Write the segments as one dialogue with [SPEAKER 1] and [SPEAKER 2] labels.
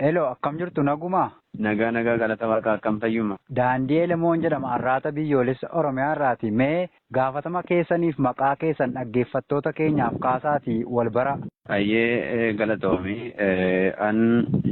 [SPEAKER 1] Hello, akkam jirtu nagumaa? Nagaa nagaa galata
[SPEAKER 2] waaqaa akkam fayyuma. Daandii Elemoon
[SPEAKER 1] jedhama arraata biyyoolessa Oromiyaa irraati. Mee gaafatama keessaniif maqaa keessan dhaggeeffattoota keenyaaf kaasaatii wal bara. Hayyee
[SPEAKER 2] galatoomi. An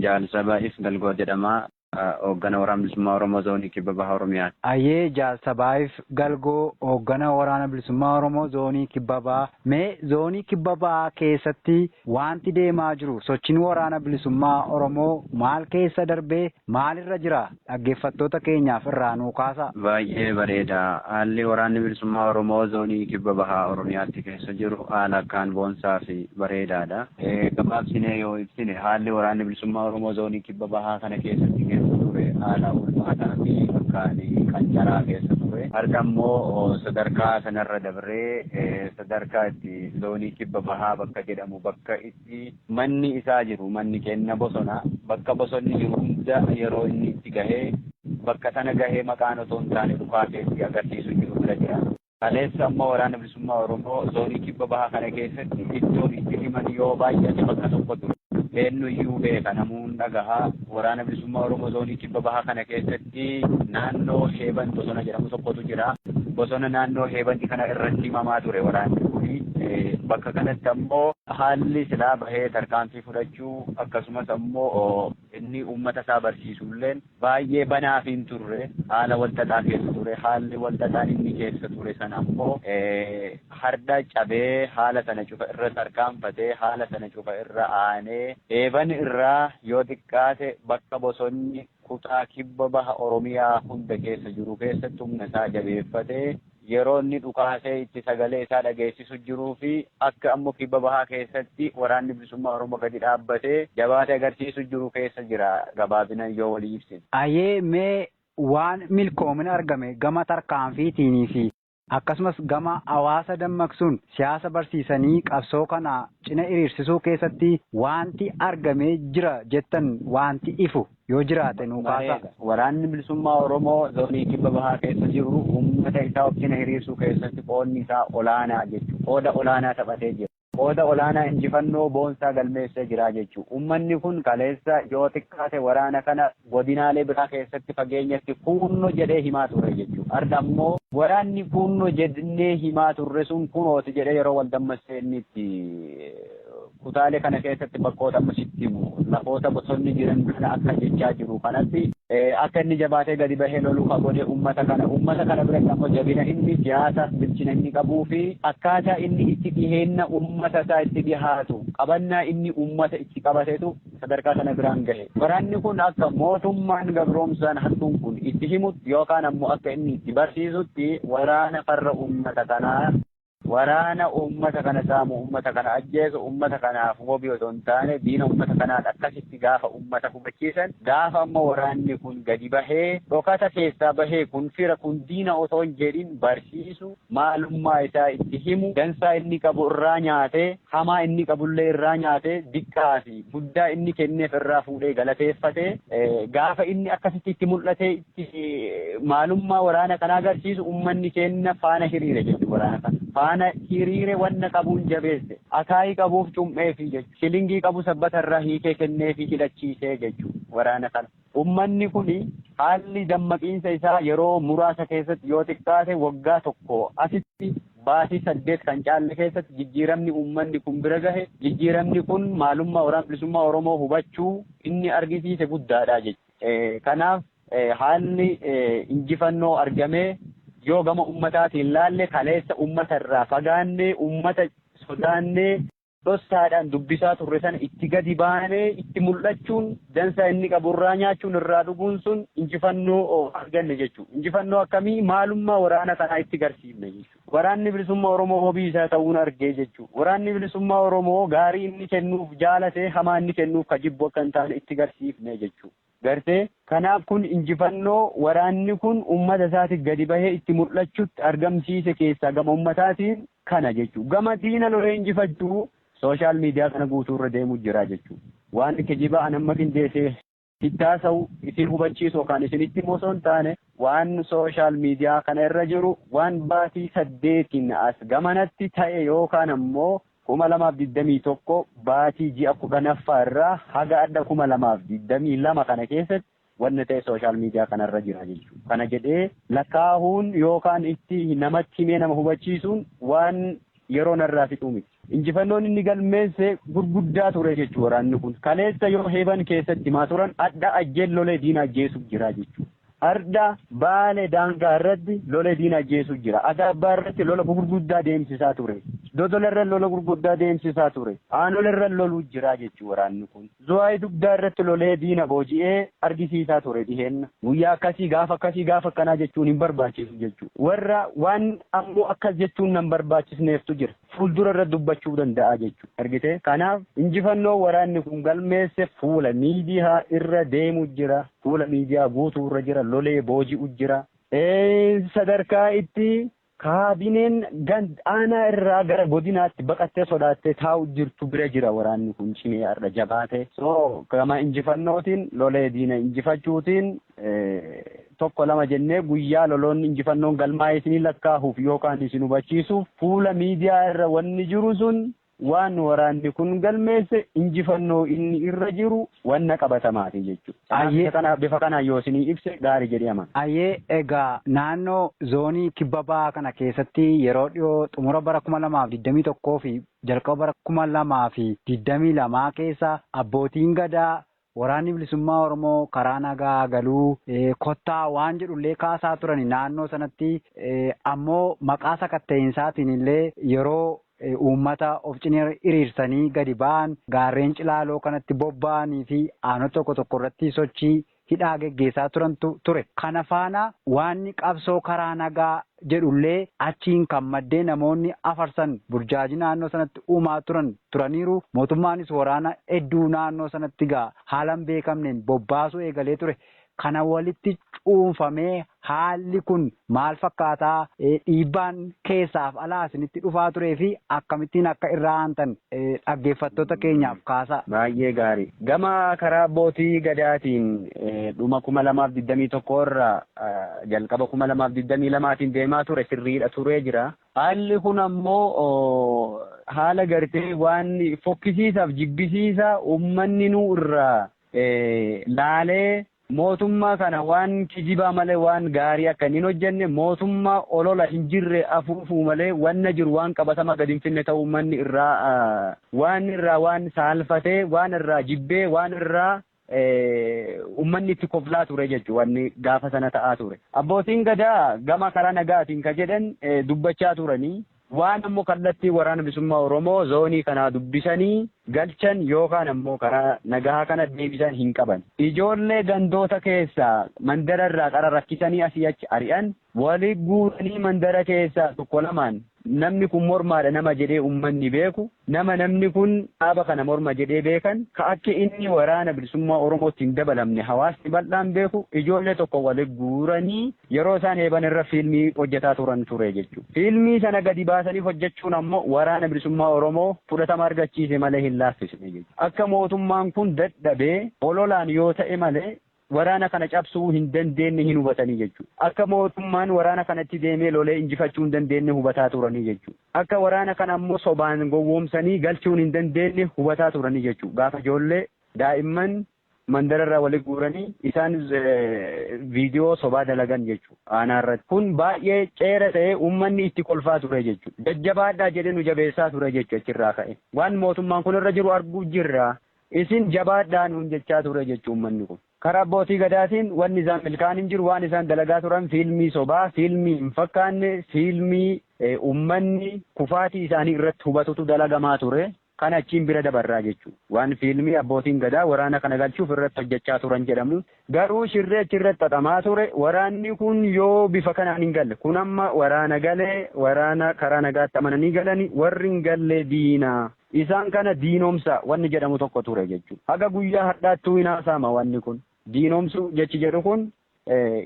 [SPEAKER 2] jaalsaba if galgoo jedhama. Hooggana Waraana Bilisummaa Oromoo Zoonii Kibba Baha Oromiyaa. Ayyee Jaal
[SPEAKER 1] Sabaayiif Galgoo, Hooggana Waraana Bilisummaa Oromoo Zoonii Kibba Bahaa, mee Zoonii Kibba Bahaa keessatti waanti deemaa jiru, sochiin Waraana Bilisummaa Oromoo maal keessa darbee maalirra jira? Dhaggeeffattoota keenyaaf irraa nuu kaasaa. Baay'ee bareeda.
[SPEAKER 2] Haalli Waraanni Bilisummaa Oromoo Zoonii Kibba Baha Oromiyaatti keessa jiru haala akkaan boonsaafi bareedaadha. Gabaabsinee yoo ibsine, haalli Waraanni Bilisummaa Oromoo Zoonii. Kibba Bahaa kana keessatti keessa ture haala ulfaataa fi akkaan qancaraa keessa ture. Har'a immoo sadarkaa sanarra dabree sadarkaa itti zoonii Kibba Bahaa bakka jedhamu bakka itti manni isaa jiru manni kenna bosona bakka bosonni jiru hunda yeroo inni itti gahee bakka sana gahee maqaan otoo hin taane dhukaasee itti agarsiisu jiru irra jira. Kaleessa ammoo Waraana Bilisummaa Oromoo zoonii kibba bahaa kana keessatti iddoon itti himan yoo baay'ate bakka tokko ture. Eennuyyuu beeka, namuu hin dhagaha. Waraana Bilisummaa Oromoo zoonii kibba bahaa kana keessatti naannoo Heeban bosona jedhamu tokkotu jira. Bosona naannoo Heebani kana irratti himamaa ture waraanni kuni. Bakka kanatti ammoo haalli silaa bahee tarkaanfii fudhachuu akkasumas ammoo inni uummata isaa barsiisulleen baay'ee banaa hin turre, haala wal xaxaa keessa ture, haalli wal xaxaan inni keessa ture sana ammoo hardha cabee haala sana cufa irra tarkaanfatee, haala sana cufa irra aanee, eeban irraa yoo xiqqaate bakka bosonni kutaa kibba baha Oromiyaa hunda keessa jiru keessatti humna isaa jabeeffatee, Yeroo inni dhukaasee itti sagalee isaa dhageessisu jiruu fi akka ammo kibba bahaa keessatti waraanni bilisummaa Oromoo gadi dhaabbatee jabaate agarsiisu jiru keessa jira gabaabinan yoo walii ibsine. Ayee mee
[SPEAKER 1] waan milkoomina argame gama tarkaanfiitiinii fi akkasumas gama hawaasa dammaqsuun siyaasa barsiisanii qabsoo kana cina iriirsisuu keessatti waanti argamee jira jettan waanti ifu Yoo jiraate nuu kaasaa. Waraanni Bilisummaa
[SPEAKER 2] Oromoo Zoonii Kibba Bahaa keessa jiru uummata isaa of cina hiriirsuu keessatti qoodni isaa olaanaa jechuun qooda olaanaa taphatee jira. Qooda olaanaa injifannoo boonsaa galmeessee jira jechuun uummanni kun kaleessa yoo xiqqaate waraana kana godinaalee biraa keessatti fageenyatti kuunno jedhee himaa ture jechuun har'a ammoo waraanni kuunno jedhnee himaa turre sun kunooti jedhee yeroo wal dammassee inni itti Kutaalee kana keessatti bakkoota amma sitti himu lafoota bosonni jiran kana akka jechaa jiru kanatti. Akka inni jabaatee gadi bahee lolu ka godhe ummata kana. Ummata kana biratti ammoo jabina inni siyaasaaf bilchina inni qabuu fi akkaataa inni itti dhiheenna ummata isaa itti dhihaatu qabannaa inni ummata itti qabatetu sadarkaa sana biraan gahe. Waraanni kun akka mootummaan gabroomsaan hattuun kun itti himutti yookaan ammoo akka inni itti barsiisutti waraana farra ummata kanaa. Waraana uummata kana saamu, uummata kana ajjeesu, uummata kanaaf wabii osoo hin taane diina uummata kanaati. Akkasitti gaafa uummata hubachiisan, gaafa ammoo waraanni kun gadi bahee dhokata keessaa bahee kun fira kun diina osoo hin jedhin barsiisu, maalummaa isaa itti himu, dansaa inni qabu irraa nyaatee, hamaa inni qabullee irraa nyaatee, diqqaa fi guddaa inni kenneef irraa fuudhee galateeffatee gaafa inni akkasitti itti mul'atee, maalummaa waraana kanaa agarsiisu ummanni keenna faana hiriire jechu waraana kana faana hiriire wanna qabuun jabeesse akaayii qabuuf cum'eefi jechu shilingii qabu sabbata irraa hiikee kenneefi hidhachiisee jechu waraana kana ummanni kun haalli dammaqiinsa isaa yeroo muraasa keessatti yoo xiqqaate waggaa tokko asitti baatii saddeet kan caalle keessatti jijjiiramni ummanni kun bira gahe jijjiiramni kun maalummaa waraana bilisummaa Oromoo hubachuu inni argisiise guddaadha jechuudha. Kanaaf haalli injifannoo argamee yoo gama ummataatiin laalle kaleessa ummata irraa fagaannee, ummata sodaannee, dhossaadhaan dubbisaa turre sana itti gadi baanee itti mul'achuun dansaa inni qabu irraa nyaachuun irraa dhuguun sun injifannoo arganne jechuudha. Injifannoo akkamii maalummaa waraana kanaa itti garsiifne jechuudha. Waraanni Bilisummaa Oromoo wabii isaa ta'uun argee jechuu. Waraanni Bilisummaa Oromoo gaarii inni kennuuf jaalate hamaa inni kennuuf ka jibbu akka hin taane itti garsiifne jechuu. Gartee? Kanaaf kun injifannoo waraanni kun ummata isaatiif gadi bahee itti mul'achutti argamsiise keessaa gama ummataatiin kana jechuu. Gama diina lolee injifachuu social media kana guutuu irra deemuu jira jechuu. Waan kijibaa an amma qindeessee. itti haasa'u, isin hubachiisu yookaan isinitti himu osoo hin taane waan social media kana irra jiru waan baatii saddeetiin as gamanatti ta'e yookaan ammoo 2021 baatii ji'a 10ffaa irraa haga adha 2022 kana keessatti wanna ta'e social media kana irra jira jechuudha. Kana jedhee lakkaa'uun yookaan itti namatti himee nama hubachiisuun waan yeroo narraa fixuu miti. Injifannoon inni galmeesse gurguddaa ture jechuun waraanni kun kaleessa yoo heeban keessatti himaa turan adha ajjeen lolee diina ajjeesuuf jira jechuudha. Ardha baale daangaa irratti lolee diina ajjeesuuf jira. Adaabbaa irratti lola gurguddaa deemsisaa ture. Dodola irra lola gurguddaa deemsisaa ture. Aanola irra loluu jira jechuun waraanni kun. Zuwaayii dugdaa irratti lolee diina booji'ee argisiisaa ture dhiheenna. Guyyaa akkasii gaafa akkasii gaafa akkanaa jechuun hin barbaachisu jechuudha. Warra waan ammoo akkas jechuun nan barbaachisneeftu jira. fuuldura irra dubbachuu danda'a jechuudha. Argite? Kanaaf injifannoo waraanni kun galmeesse fuula miidiyaa irra deemu jira. Fuula miidiyaa guutuu irra jira. Lolee booji'u jira. Sadarkaa itti kaabineen ganda aanaa irraa gara godinaatti baqattee sodaattee taa'u jirtu bira jira waraanni kun cimee har'a jabaate. So gama injifannootiin lolee diina injifachuutiin tokko lama jennee guyyaa loloonni injifannoon galmaa'ee isiniin lakkaahuuf yookaan isin hubachiisuuf fuula miidiyaa irra wanni jiru sun waan waraanni kun galmeesse injifannoo inni irra jiru wanna qabatamaati jechuudha. Kanaaf isa kana bifa kanaan yoo isinii ibse gaari jedhee amana. Ayyee egaa
[SPEAKER 1] naannoo zoonii kibba bahaa kana keessatti yeroo dhiyoo xumura bara 2021 fi jalqaba bara 2022 keessa abbootiin gadaa Waraanni Bilisummaa Oromoo karaa nagaa haa galu kottaa waan jedhu illee kaasaa turani naannoo sanatti ammoo maqaa sakatta'iinsaatiin illee yeroo uummata of cina hiriirsanii gadi ba'an gaarreen Cilaaloo kanatti bobba'anii fi aanota tokko tokko irratti sochii hidhaa geggeessaa turantu ture. Kana faana waanni qabsoo karaa nagaa jedhullee achiin kan maddee namoonni afarsan burjaajii naannoo sanatti uumaa turan turaniiru, mootummaanis waraana hedduu naannoo sanatti egaa haala hin beekamneen bobbaasuu eegalee ture. Kana walitti cuunfamee haalli kun maal fakkaataa? Dhiibbaan keessaaf alaa isinitti dhufaa turee fi akkamittiin akka irraa aantan dhaggeeffattoota keenyaaf kaasaa. Baay'ee gaarii.
[SPEAKER 2] Gama karaa abbootii Gadaatiin dhuma 2021 irraa jalqaba 2022 tiin deemaa ture sirriidha turee jira. Haalli kun ammoo haala gartee waan fokkisiisaaf jibbisiisa ummanni nuu irraa laalee mootummaa kana waan kijibaa malee waan gaarii akka hin hojjenne mootummaa olola hin jirre afuufuu malee wanna jiru waan qabatamaa gad hin finne ta'uu ummanni irraa waan irraa waan saalfatee waan irraa jibbee waan irraa ummanni itti koflaa ture jechuudha wanni gaafa sana ta'aa ture. Abbootiin gadaa gama karaa nagaatiin ka jedhan dubbachaa turanii waan ammoo kallattii waraana bilisummaa Oromoo zoonii kanaa dubbisanii galchan yookaan ammoo karaa nagahaa kana deebisan hin qaban. Ijoollee gandoota keessaa mandara irraa qara rakkisanii asii achi ari'an Wali guuranii mandara keessaa tokko lamaan namni kun mormaadha nama jedhee ummanni beeku, nama namni kun dhaaba kana morma jedhee beekan, ka akka inni Waraana Bilisummaa Oromootti hin dabalamne hawaasni bal'aan beeku ijoollee tokko wali guuranii yeroo isaan heeban irra fiilmii hojjetaa turan ture jechuudha. Fiilmii sana gadi baasanii hojjechuun ammoo Waraana Bilisummaa Oromoo fudhatama argachiise malee hin laaffisne jechuudha. Akka mootummaan kun dadhabee ololaan yoo ta'e malee waraana kana cabsuu hin dandeenne hin hubatanii jechuu. Akka mootummaan waraana kana itti deemee lolee injifachuu hin dandeenne hubataa turanii jechuu. Akka waraana kana ammoo sobaan gowwoomsanii galchuun hin dandeenne hubataa turanii jechuu. Gaafa ijoollee, daa'imman mandara irraa wali guuranii isaan viidiyoo sobaa dalagan jechuu aanaa irratti. Kun baay'ee ceera ta'ee uummanni itti kolfaa ture jechuu. Jajjabaadhaa jedhee nu jabeessaa ture jechuu achirraa ka'ee. Waan mootummaan kun irra jiru arguu jirra. Isin jabaadhaa nuun jechaa ture jechu ummanni kun. Karaa abbootii gadaatiin wanni isaan milkaa'an hin jiru, waan isaan dalagaa turan fiilmii sobaa, fiilmii hin fakkaanne, fiilmii ummanni kufaatii isaanii irratti hubatutu dalagamaa ture. Kan achiin bira dabarraa jechu. Waan fiilmii abbootiin gadaa waraana kana galchuuf irratti hojjachaa turan jedhamu. Garuu shirri achi irratti xaxamaa ture waraanni kun yoo bifa kanaan hin galle. Kun amma waraana gale, waraana karaa nagaatti amananii galani, warri hin galle diina. Isaan kana diinomsa wanni jedhamu tokko ture jechuudha. Haga guyyaa hardhaattuu hin haasa'ama wanni kun. Diinomsuu jechi jedhu kun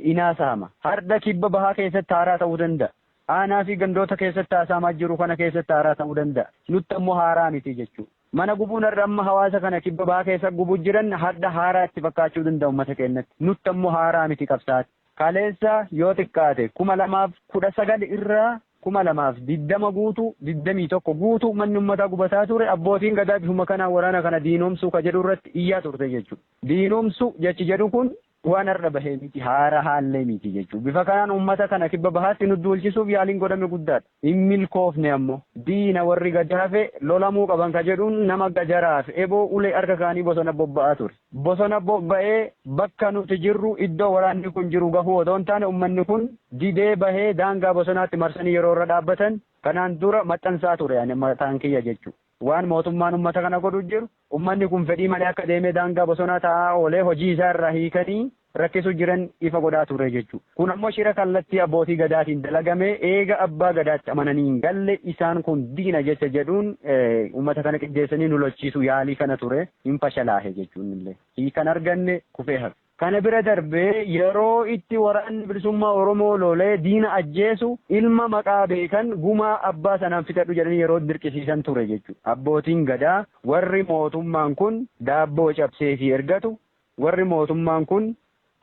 [SPEAKER 2] hin haasa'ama. Hardha kibba bahaa keessatti haaraa ta'uu danda'a. Aanaa fi gandoota keessatti haasa'amaa jiru kana keessatti haaraa ta'uu danda'a. Nutti ammoo haaraa miti jechuudha. Mana gubuun har'a amma hawaasa kana kibba bahaa keessa gubuu jiran hardha haaraa itti fakkaachuu danda'a ummata keennatti. Nutti ammoo haaraa miti qabsaa'atti. Kaleessa yoo xiqqaate 2019 irraa 2020 guutuu 21 guutuu manni ummataa gubataa ture abbootiin gadaa bifuma kanaan waraana kana diinomsuu ka jedhu irratti iyyaa turte jechuudha. Diinomsu jechi jedhu kun waan har'a bahe miti haarahaallee miti jechuudha. Bifa kanaan ummata kana kibba bahaatti nu duulchisuuf yaaliin godhame guddaadha. hin milkoofne ammo. Diina warri gad hafe lolamuu qaban ka jedhuun nama gajaraaf eboo ulee harka kaanii bosona bobba'aa ture. Bosona bobba'ee bakka nuti jirru iddoo waraanni kun jiru gahuu odoo hin taane ummanni kun didee bahee daangaa bosonaatti marsanii yeroo irra dhaabbatan kanaan dura maxxansaa ture ani mataan kiyya jechuu. Waan mootummaan ummata kana godhu jiru, ummanni kun fedhii malee akka deemee daangaa bosonaa taa'aa oolee hojii isaa irraa hiikanii rakkisu jiran ifa godhaa turre jechuu. Kun ammoo shira kallattii abbootii Gadaatiin dalagame eega abbaa Gadaatti amananii hin galle isaan kun diina jecha jedhuun ummata kana qijjeessanii nu lolchiisuu yaalii kana ture hin fashalaahe jechuun illee hiika hin arganne kufee hafe. Kana bira darbee yeroo itti Waraanni Bilisummaa Oromoo lolee diina ajjeesu ilma maqaa beekan gumaa abbaa sanaan fixadhu jedhanii yeroo dirqisiisan ture jechuudha. Abbootiin Gadaa warri mootummaan kun daabboo cabseefii ergatu, warri mootummaan kun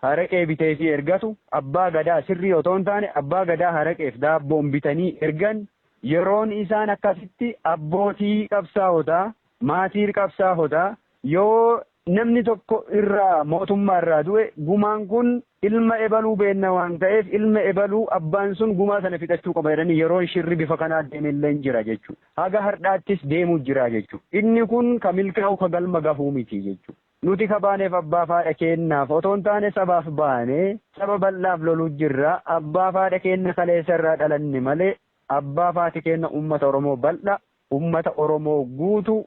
[SPEAKER 2] haraqee biteefii ergatu, abbaa Gadaa sirrii otoo hin taane abbaa Gadaa haraqeef daabboon bitanii ergan yeroon isaan akkasitti abbootii qabsaawotaa, maatiir qabsaahotaa, Yoo namni tokko irraa mootummaa irraa du'e gumaan kun ilma ebaluu beenna waan ta'eef ilma ebaluu abbaan sun gumaa sana fixachuu qaba jedhanii yeroon shirri bifa kanaa deeme illee jira jechuudha. Haga hardhaattis deemuu jira jechuudha. Inni kun ka milkaa'u ka galma gahuu miti jechuudha. Nuti ka baaneef abbaaf haadha keennaaf otoo hin taane sabaaf baane, saba bal'aaf loluu jirra. Abbaaf haadha keenna kaleessa irraa dhalanne malee abbaaf haati keenna uummata Oromoo bal'aa, uummata Oromoo guutuu,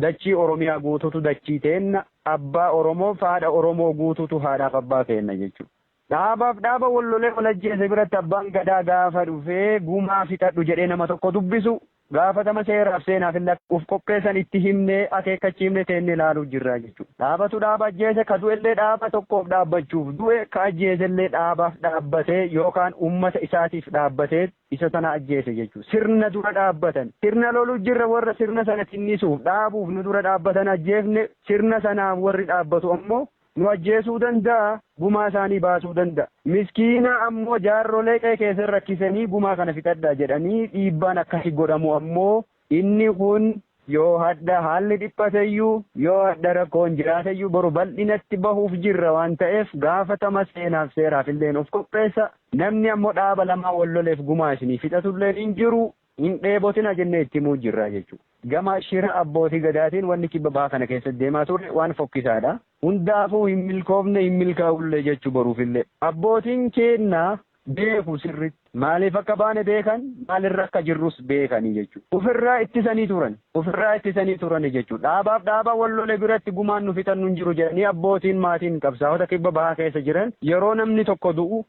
[SPEAKER 2] Dachii Oromiyaa guututu dachii teenna, Abbaa Oromoof haadha Oromoo guututu haadhaaf abbaa keenna jechuu. Dhaabaaf dhaaba wal lolee wal ajjeese biratti Abbaan Gadaa gaafa dhufee gumaa fixadhu jedhee nama tokko dubbisu, gaafatama seeraaf seenaafillee akka uf qopheessan itti himnee, akeekkachiifne teennee laaluu jirra jechuu. Dhaabatu dhaaba ajjeese, ka du'ellee dhaaba tokkoof dhaabbachuuf du'e, ka ajjeesellee dhaabaaf dhaabbatee yookaan ummata isaatiif dhaabbateet, isa sana ajjeese jechuudha. Sirna dura dhaabbatan. Sirna lolu jirra warra sirna sana tinnisuuf dhaabuuf nu dura dhaabbatan ajjeefne sirna sanaaf warri dhaabbatu ammoo nu ajjeesuu danda'a gumaa isaanii baasuu danda'a. Miskiina ammoo jaarrolee qe'ee keessan rakkisanii gumaa kana fixadhaa jedhanii dhiibbaan akkasi godhamu ammoo Inni kun yoo hadha haalli dhiphateyyuu, yoo hadha rakkoon jiraateyyuu boru bal'inatti bahuuf jirra waan ta'eef gaafatama seenaaf seeraafilleen of qopheessa. Namni ammo dhaaba lamaan wal loleef gumaa isinii fixatulleen hin jiru. Hin dheebotina jennee itti himuu jirra jechu. Gama shira abbootii Gadaatiin wanni kibba baha kana keessatti deemaa ture waan fokkisaadha. Hundaafuu hin milkoofne hin milkaa'ullee jechu boruufillee. Abbootiin keenna beeku sirritti. Maaliif akka baane beekan, maalirra akka jirrus beekani jechuudha. Ufirraa ittisanii turan. Ufirraa ittisanii turani jechuudha. Dhaabaaf dhaaba wal lole biratti gumaan nu fixannu hin jiru jedhanii abbootiin maatiin qabsaa'ota kibba bahaa keessa jiran yeroo namni tokko du'u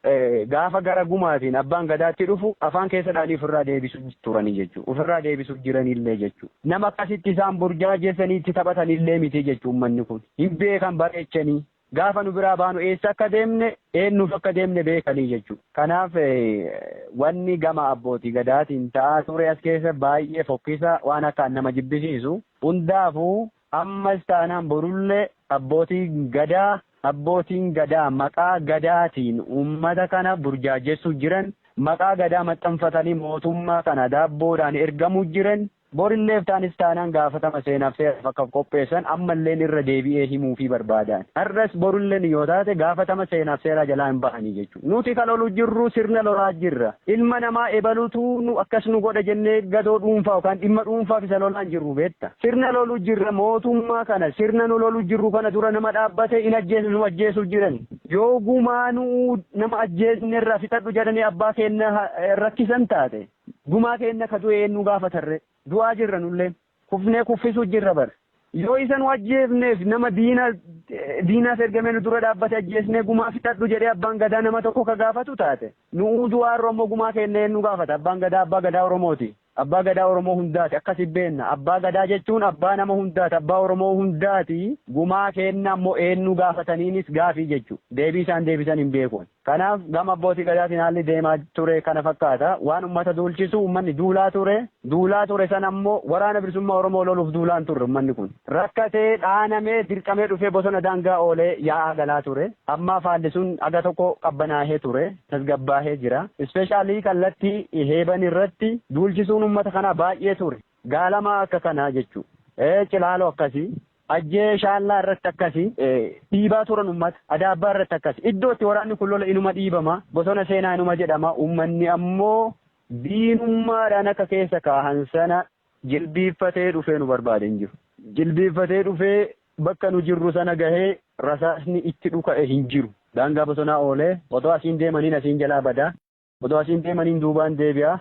[SPEAKER 2] gaafa gara gumaatiin abbaan gadaatti dhufu afaan keessa dhahanii ufirraa deebisu turani jechuudha. Ufirraa deebisu jiranillee jechuudha. Nama akkasitti isaan burjaajessanii itti taphatanillee miti jechuudha ummanni kun. Hin beekan bareechanii. Gaafa nu biraa baanu eessa akka deemne, eennuuf akka deemne beekanii jechuu. Kanaaf wanni gama Abbooti Gadaatiin ta'aa ture as keessa baay'ee fokkisa, waan akkaan nama jibbisiisu. Hundaafuu ammas taanaan borullee Abbootiin Gadaa, Abbootiin Gadaa maqaa Gadaatiin uummata kana burjaajessuu jiran, maqaa Gadaa maxxanfatanii mootummaa kana daabboodhaan ergamuu jiran, Borillee iftaanis taanaan gaafatama seenaaf seeraaf akka of qopheessan ammalleen irra deebi'ee himuufii barbaada ani. Har'as borullen yoo taate gaafatama seenaaf seeraa jalaa hin bahanii jechuudha. Nuti ka lolu jirru sirna lolaa jirra. Ilma namaa ebalutu nu akkas nu godha jennee gadoo dhuunfaa yookaan dhimma dhuunfaaf isa lolaa hin jirru beetta. Sirna lolu jirra mootummaa kana sirna nu lolu jirru kana dura nama dhaabbate hin ajjeesnu nu ajjeesuu jirani. Yoo gumaa nu'uu nama ajjeesne irraa fixadhu jedhanii abbaa keenna rakkisan taate Gumaa keenna ka du'e eennuu gaafatarre? Du'aa jirra nulleen. Kufnee kuffisuu jirra bar. Yoo isa nu ajjeefneef nama diina diinaaf ergame nu dura dhaabbate ajjeesnee gumaa fixadhu jedhee abbaan gadaa nama tokko ka gaafatu taate nu'uu du'aa irra immoo gumaa keenna eennuu gaafata? Abbaan gadaa abbaa gadaa Oromooti. Abbaa gadaa Oromoo hundaati. Akkasi beenna. Abbaa gadaa jechuun abbaa nama hundaati. Abbaa Oromoo hundaati. Gumaa keenna immoo eennuu gaafataniinis gaafii jechu. Deebii isaan deebisan hin beeku ani. Kanaaf gama Abbootii Gadaatiin haalli deemaa ture kana fakkaata. Waan ummata duulchisu ummanni duulaa ture. Duulaa ture sana immoo Waraana Bilisummaa Oromoo loluuf duulaa hin turre ummanni kun. Rakkatee, dhaanamee, dirqamee dhufee bosona daangaa oolee yaa'aa galaa ture. Ammaaf haalli sun haga tokko qabbanaahee ture. Tasgabbaahee jira. Specially kallattii Heeban irratti duulchisuun ummata kanaa baay'ee ture. Gaalamaa akka kanaa jechuu. Cilaaloo akkasii. Ajjee Shaallaa irratti akkasi, dhiibaa turan ummata. Adaabbaa irratti akkasi. Iddoo itti waraanni kun lola inuma dhiibama, bosona seenaa inuma jedhama, ummanni ammoo diinummaadhaan akka keessa kaahan sana jilbiiffatee dhufee nu barbaade hin jiru. Jilbiiffatee dhufee bakka nu jirru sana gahee rasaasni itti dhuka'e hin jiru. Daangaa bosonaa oolee otoo asiin deemaniin asiin jalaa bada. Odoo asiin deemaniin duubaan deebi'a.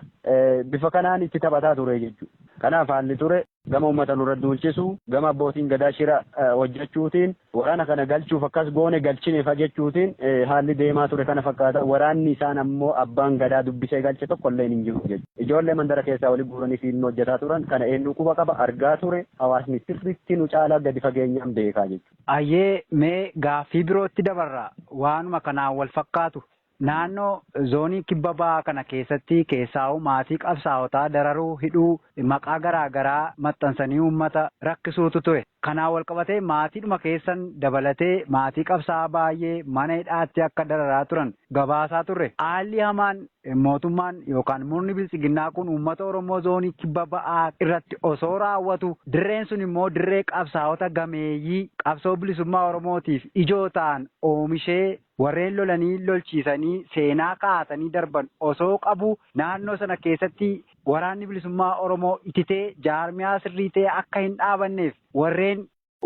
[SPEAKER 2] Bifa kanaan itti taphataa ture jechuudha. Kanaaf haalli ture gama uummata nurra duulchisuu, gama abbootiin gadaa shira hojjechuutiin waraana kana galchuuf akkas goone galchinefa jechuutiin haalli deemaa ture kana fakkaata. Waraanni isaan ammoo abbaan gadaa dubbisee galche tokkolleen hin jiru jechuudha. Ijoollee mandara keessaa wali guuranii fiilmii hojjetaa turan. Kana eenyuu quba qaba? Argaa ture. Hawaasni sirriitti nu caalaa gadi fageenyaan beekaa jechuudha. Hayyee mee
[SPEAKER 1] gaaffii birootti dabarra. Waanuma kanaan wal fakkaatu Naannoo Zoonii Kibba Bahaa kana keessatti keessaahuu maatii qabsaa'otaa dararuu, hidhuu, maqaa garaa garaa maxxansanii uummata rakkisuutu ture. Kanaan walqabatee maatiidhuma keessan dabalatee maatii qabsaa'aa baay'ee mana hidhaatti akka dararaa turan gabaasaa turre. Haalli hamaan mootummaan yookaan murni Biltsiginnaa kun uummata Oromoo Zoonii Kibba Bahaa irratti osoo raawwatu dirreen sun immoo dirree qabsaa'ota gameeyyii qabsoo bilisummaa Oromootiif ijoo ta'an oomishee Warreen lolanii lolchiisanii seenaa kaasanii darban osoo qabuu naannoo sana keessatti Waraanni Bilisummaa Oromoo ititee jaarmiyaa sirrii ta'e akka hin dhaabanneef warreen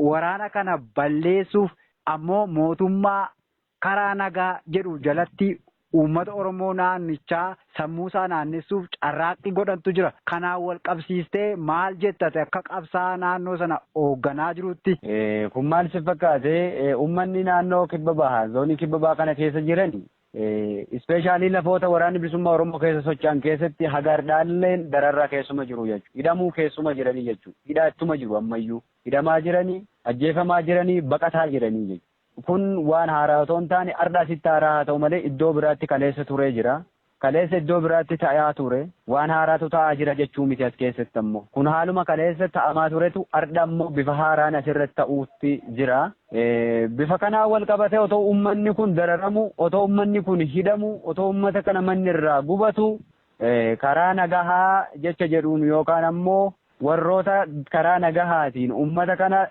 [SPEAKER 1] waraana kana balleessuuf ammoo mootummaa karaa nagaa jedhu jalatti uummata Oromoo naannichaa sammuusaa naannessuuf carraaqqii godhantu jira. Kanaan walqabsiistee maal jetta ati akka qabsaa'aa naannoo sana oogganaa jiruutti? Kun maal si
[SPEAKER 2] fakkaate? Uummanni naannoo kibba bahaa, zoonii kibba bahaa kana keessa jiran ispeeshaalii lafoota waraanni bilisummaa Oromoo keessa socho'an keessatti haga hardhaalleen dararraa keessuma jiru jechuudha. Hidhamuu keessuma jiranii jechuudha. Hidhaa ittuma jiru ammayyuu. Hidhamaa jiranii, ajjeefamaa jiranii, baqataa jiranii jechuudha. Kun waan haaraa otoo hin taane ardha asitti haaraa haa ta'u malee iddoo biraatti kaleessa turee jira. Kaleessa iddoo biraatti ta'aa ture. Waan haaraatu ta'aa jira jechuu miti as keessatti ammoo. Kun haaluma kaleessa ta'amaa turetu ardha ammoo bifa haaraan asirratti ta'uutti jira. Bifa kanaan wal qabatee otoo uummanni kun dararamu, otoo uummanni kun hidhamu, otoo uummata kana manni irraa gubatu karaa nagahaa jecha jedhuun yookaan ammoo warroota karaa nagahaatiin uummata kana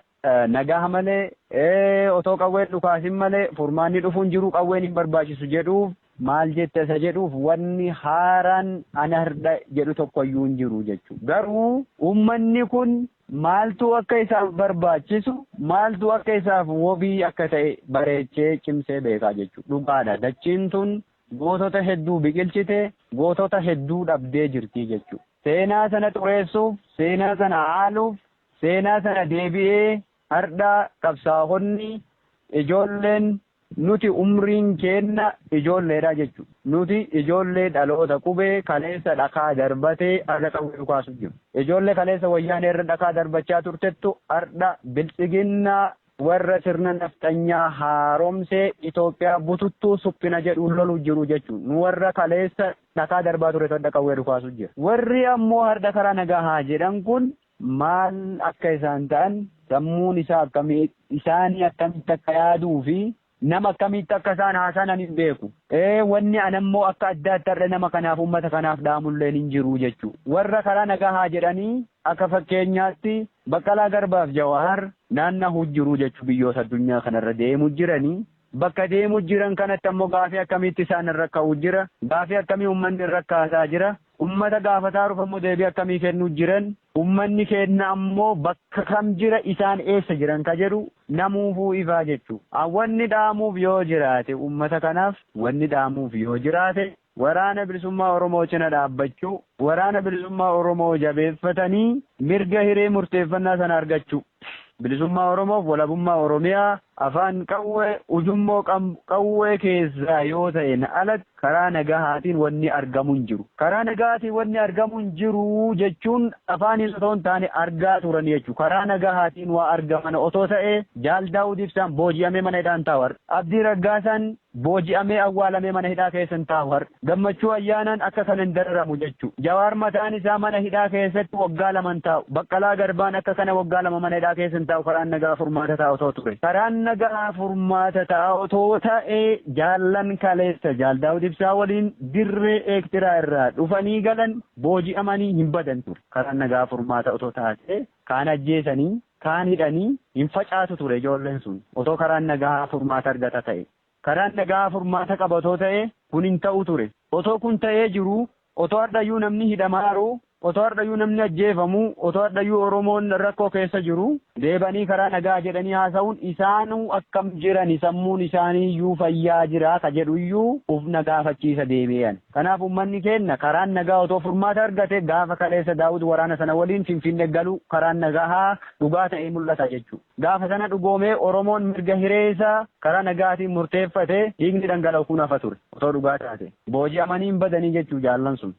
[SPEAKER 2] Nagaha malee otoo qawween dhukaasin malee furmaanni dhufu hin jiru qawween hin barbaachisu jedhuuf maal jetta isa jedhuuf wanni haaraan ana hirdha jedhu tokkoyyuu hin jiru jechuudha. Garuu uummanni kun maaltu akka isaaf barbaachisu maaltu akka isaaf wobii akka ta'e bareechee cimsee beekaa jechuudha. Dhugaadha dachiin tun gootota hedduu biqilchite gootota hedduu dhabdee jirti jechuudha. Seenaa sana xureessuuf seenaa sana haaluuf Seenaa sana deebi'ee hardha qabsaahonni ijoolleen nuti umriin keenna ijoolleedha jechu. Nuti ijoollee dhaloota qubee kaleessa dhakaa darbatee arra qawwee dhukaasu jiru. Ijoollee kaleessa wayyaanee irra dhakaa darbachaa turtettu hardha biltsiginna warra sirna nafxanyaa haaromsee Itoophiyaa bututtuu suphina jedhuun lolu jiru jechu. Nu warra kaleessa dhakaa darbaa turetu hardha qawwee dhukaasu jira. Warri ammoo hardha karaa nagahaa jedhan kun maal akka isaan ta'an, sammuun isaa akkami, isaanii akkamitti akka yaaduu fi nama akkamiitti akka isaan haasanan hin beeku. Ee, wanni ana immoo akka addaatti har'a nama kanaaf, ummata kanaaf dhaamulleen hin jiru jechu. Warra karaa nagahaa jedhanii akka fakkeenyaatti Baqqalaa Garbaaf Jawaar naannahu jiru jechu biyyoota addunyaa kanarra deemu jirani. Bakka deemu jiran kanatti ammoo gaafii akkamiitti isaan irra ka'u jira, gaafii akkamii ummanni irra kaasaa jira, Ummata gaafataaruuf ammoo deebii akkamii kennuu jiran? Ummanni keenna ammoo bakka kam jira isaan eessa jiran ka jedhu namuufuu ifaa jechu. An wanni dhaamuuf yoo jiraate ummata kanaaf wanni dhaamuuf yoo jiraate Waraana Bilisummaa Oromoo cina dhaabbachuu, Waraana Bilisummaa Oromoo jabeeffatanii mirga hiree murteeffannaa sana argachuu. Bilisummaa Oromoof walabummaa Oromiyaa afaan qawwee, ujummoo qawwee keessaa yoo ta'een alatti, Karaa nagahaatiin wanni argamu hin jiru. Karaa nagahaatiin wanni argamu hin jiru jechuun afaaniin otoo hin taane argaa turan jechuudha. Karaa nagahaatiin waa argamana otoo ta'ee Jaal Daawud Ibsaan booji'amee mana hidhaa hin taa'u har'a. Abdii Raggaasaan booji'amee awwaalamee mana hidhaa keessa hin taa'u har'a. Gammachuu Ayyaanaan akka kana hin dararamu jechuudha. Jawaar mataan isaa mana hidhaa keessatti waggaa lama hin taa'u. Baqqalaa Garbaan akka kana waggaa lama mana hidhaa keessa hin taa'u karaan nagahaa furmaata ta'a otoo ture. Karaan nagahaa furmaata ta'a otoo ta'ee. Jaallan kaleessa Jaal Daawud Ibsaa waliin dirree Eektiraa irraa dhufanii galan booji'amanii hin badan ture. Karaan nagaa furmaata otoo taatee kaan ajjeesanii, kaan hidhanii hin facaatu ture ijoolleen sun. Otoo karaan nagaa furmaata argata ta'e. Karaan nagaa furmaata qaba otoo ta'ee kun hin ta'u ture. Otoo kun ta'ee jiruu Otoo hardhayyuu namni hidhamaaru, otoo hardhayyuu namni ajjeefamu, otoo hardhayyuu Oromoon rakkoo keessa jiru, deebanii karaa nagaa jedhanii haasawuun isaanuu akkam jirani sammuun isaaniiyyuu fayyaa jiraa ka jedhuyyuu uf na gaafachiisa deebi'ee ani. Kanaaf ummanni keenna karaan nagaa otoo furmaata argate gaafa kaleessa Daawud waraana sana waliin Finfinne galu karaan nagahaa dhugaa ta'ee mul'ata jechu. Gaafa sana dhugoomee Oromoon mirga hiree isaa karaa nagaatiin murteeffatee dhiigni dhangala'u kun hafa ture. Otoo dhugaa taate. Booji'amanii hin badanii jechuu jaallan sun.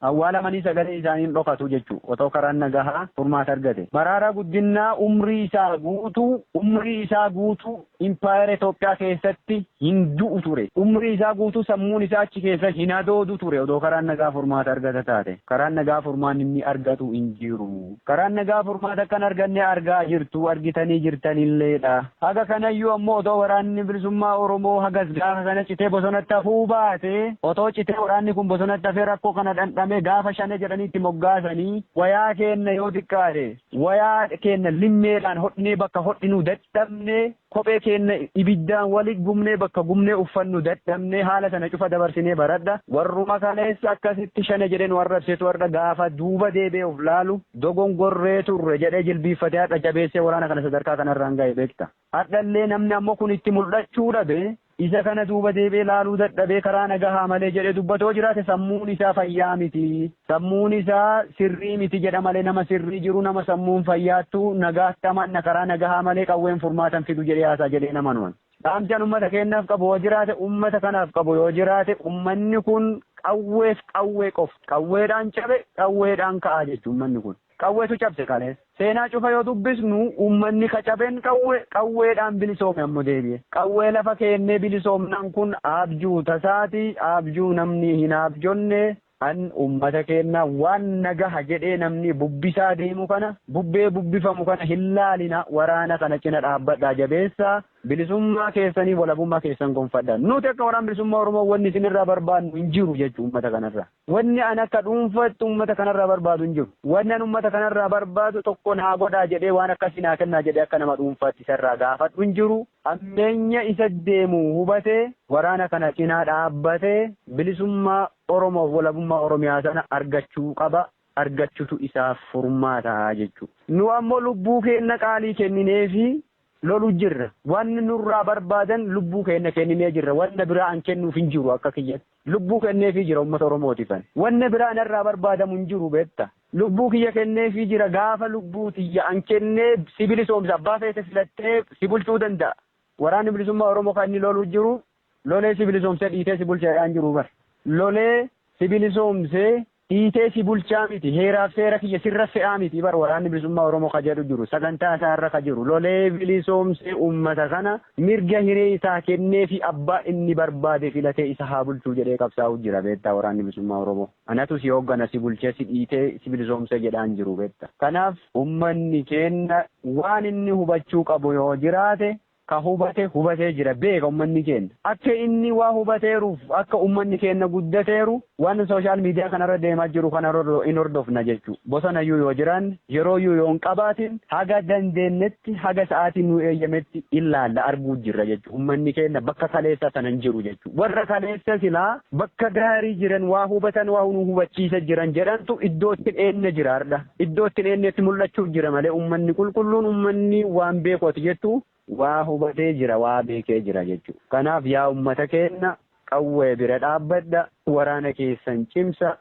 [SPEAKER 2] Awwaalamanii sagaleen isaanii hin dhokatu jechuu otoo karaan nagahaa furmaata argate. Maraaraa Guddinnaa umrii isaa guutuu umrii isaa guutuu Impaayera Itoophiyaa keessatti hin du'u ture. Umrii isaa guutuu sammuun isaa achi keessa hin hadoodu ture otoo karaan nagaa furmaata argata taate. Karaan nagaa furmaanni inni argatu hin jiru. Karaan nagaa furmaata akka hin arganne argaa jirtu, argitanii jirtanilleedha. Haga kanayyuu ammoo otoo Waraanni Bilisummaa Oromoo hagas gaafa sana citee bosonatti hafuu baatee, otoo citee waraanni kun bosonatti hafee rakkoo kana dhandhamee gaafa Shanee jedhanii itti moggaasanii wayaa keenna yoo xiqqaate wayaa keenna limmeedhaan hodhinee bakka hodhinuu dadhabne Kophee keenna ibiddaan wali gubnee bakka gubnee uffannu dadhabnee haala tana cufa dabarsinee baradha. Warruma kaleessa akkasitti shane jedhee nu arrabsetu hardha gaafa duuba deebi'ee uf laalu dogongorree turre jedhee jilbiiffatee hardha jabeessee waraana kana sadarkaa kanarraan gahe beekta. Hardhallee namni ammoo kun itti muldhachuu dhabe Isa kana duuba deebi'ee laaluu dadhabee karaa nagahaa malee jedhee dubbata yoo jiraate sammuun isaa fayyaa miti. Sammuun isaa sirrii miti jedha malee nama sirrii jiru nama sammuun fayyaattu nagaatti amanna karaa nagahaa malee qawween furmaata hin fidu jedhee haasa'a jedhee hin amanu ani. Dhaamsi an ummata keenyaaf qabu yoo jiraate ummata kanaaf qabu yoo jiraate ummanni kun qawweef qawwee qofa. Qawweedhaan cabe qawweedhaan ka'a jechuudha ummanni kun. Qawwetu cabse kale. Seenaa cufa yoo dubbisnu ummanni ka caben qawwe, qawweedhaan bilisoome ammo deebi'e. Qawwee lafa keennee bilisoomnaan kun aabjuu tasaati, aabjuu namni hin aabjonne, an ummata keenna waan nagaha jedhee namni bubbisaa deemu kana, bubbee bubbifamu kana hin laalina, waraana kana cina dhaabbadhaa jabeessaa, bilisummaa keessanii, walabummaa keessan gonfadha. Nuti akka Waraana Bilisummaa Oromoo wanni isin irraa barbaannu hin jiru jechu ummata kanarraa. Wanni an akka dhuunfaatti ummata kanarraa barbaadu hin jiru. Wanni an ummata kanarraa barbaadu tokko naa godhaa jedhee waan akkasii naa kennaa jedhee akka nama dhuunfaatti isarraa gaafadhu hin jiru. Hammeenya isa deemu hubatee waraana kana cinaa dhaabbatee bilisummaa Oromoof walabummaa Oromiyaa sana argachuu qaba. Argachutu isaaf furmaata jechuudha. Nu ammoo lubbuu keenna qaalii kennineefii lolu jirra. Wanni nurraa barbaadan lubbuu keenna kenninee jirra. Wanna biraa an kennuuf hin jiru akka kiyyatti. Lubbuu kenneefii jira ummata Oromootiif ani. Wanna biraa narraa barbaadamu hin jiru beetta. Lubbuu kiyya kenneefii jira. Gaafa lubbuu tiyya an kenne si bilisoomsa. Abbaa feete filattee si bulchuu danda'a. Waraanni Bilisummaa Oromoo kan inni lolu jiru Lolee si bilisoomsee dhiitee si bulcha jedhaa hin jiru bar. Lolee si bilisoomsee dhiitee si bulchaa miti heeraaf seera kiyya sirra fe'aa miti bar waraanni bilisummaa Oromoo ka jedhu jiru sagantaa isaa irra ka jiru lolee bilisoomsee ummata kana mirga hiree isaa kenneefi abbaa inni barbaade filatee isa haa bulchuu jedhee qabsaa'uu jira beektaa waraanni bilisummaa Oromoo anatu si hooggana si bulchee si dhiitee si bilisoomsee jedhaa hin jiru beekta kanaaf ummanni keenna waan inni hubachuu qabu yoo jiraate Ka hubate hubatee jira beeka ummanni keenna. Akka inni waa hubateeruuf akka ummanni keenna guddateeru waan social media kanarra deemaa jiru kana hin hordofna jechu. Bosonayyuu yoo jiraanne, yerooyyuu yoo hin qabaatin haga dandeennetti haga sa'aatiin nuu eeyyametti illaalla arguu jirra jechu. Ummanni keenna bakka kaleessaa sana hin jiru jechu. Warra kaleessa silaa bakka gaarii jiran waa hubatan waa nuu hubachiisa jiran jedhantu iddootti dheenna jira hardha. Iddoo itti hin eennetti mul'achuuf jira malee ummanni qulqulluun ummanni waan beeku ati jettu waa hubatee jira waa beekee jira jechuudha. Kanaaf yaa ummata keenna qawwee bira dhaabbadha waraana keessan cimsa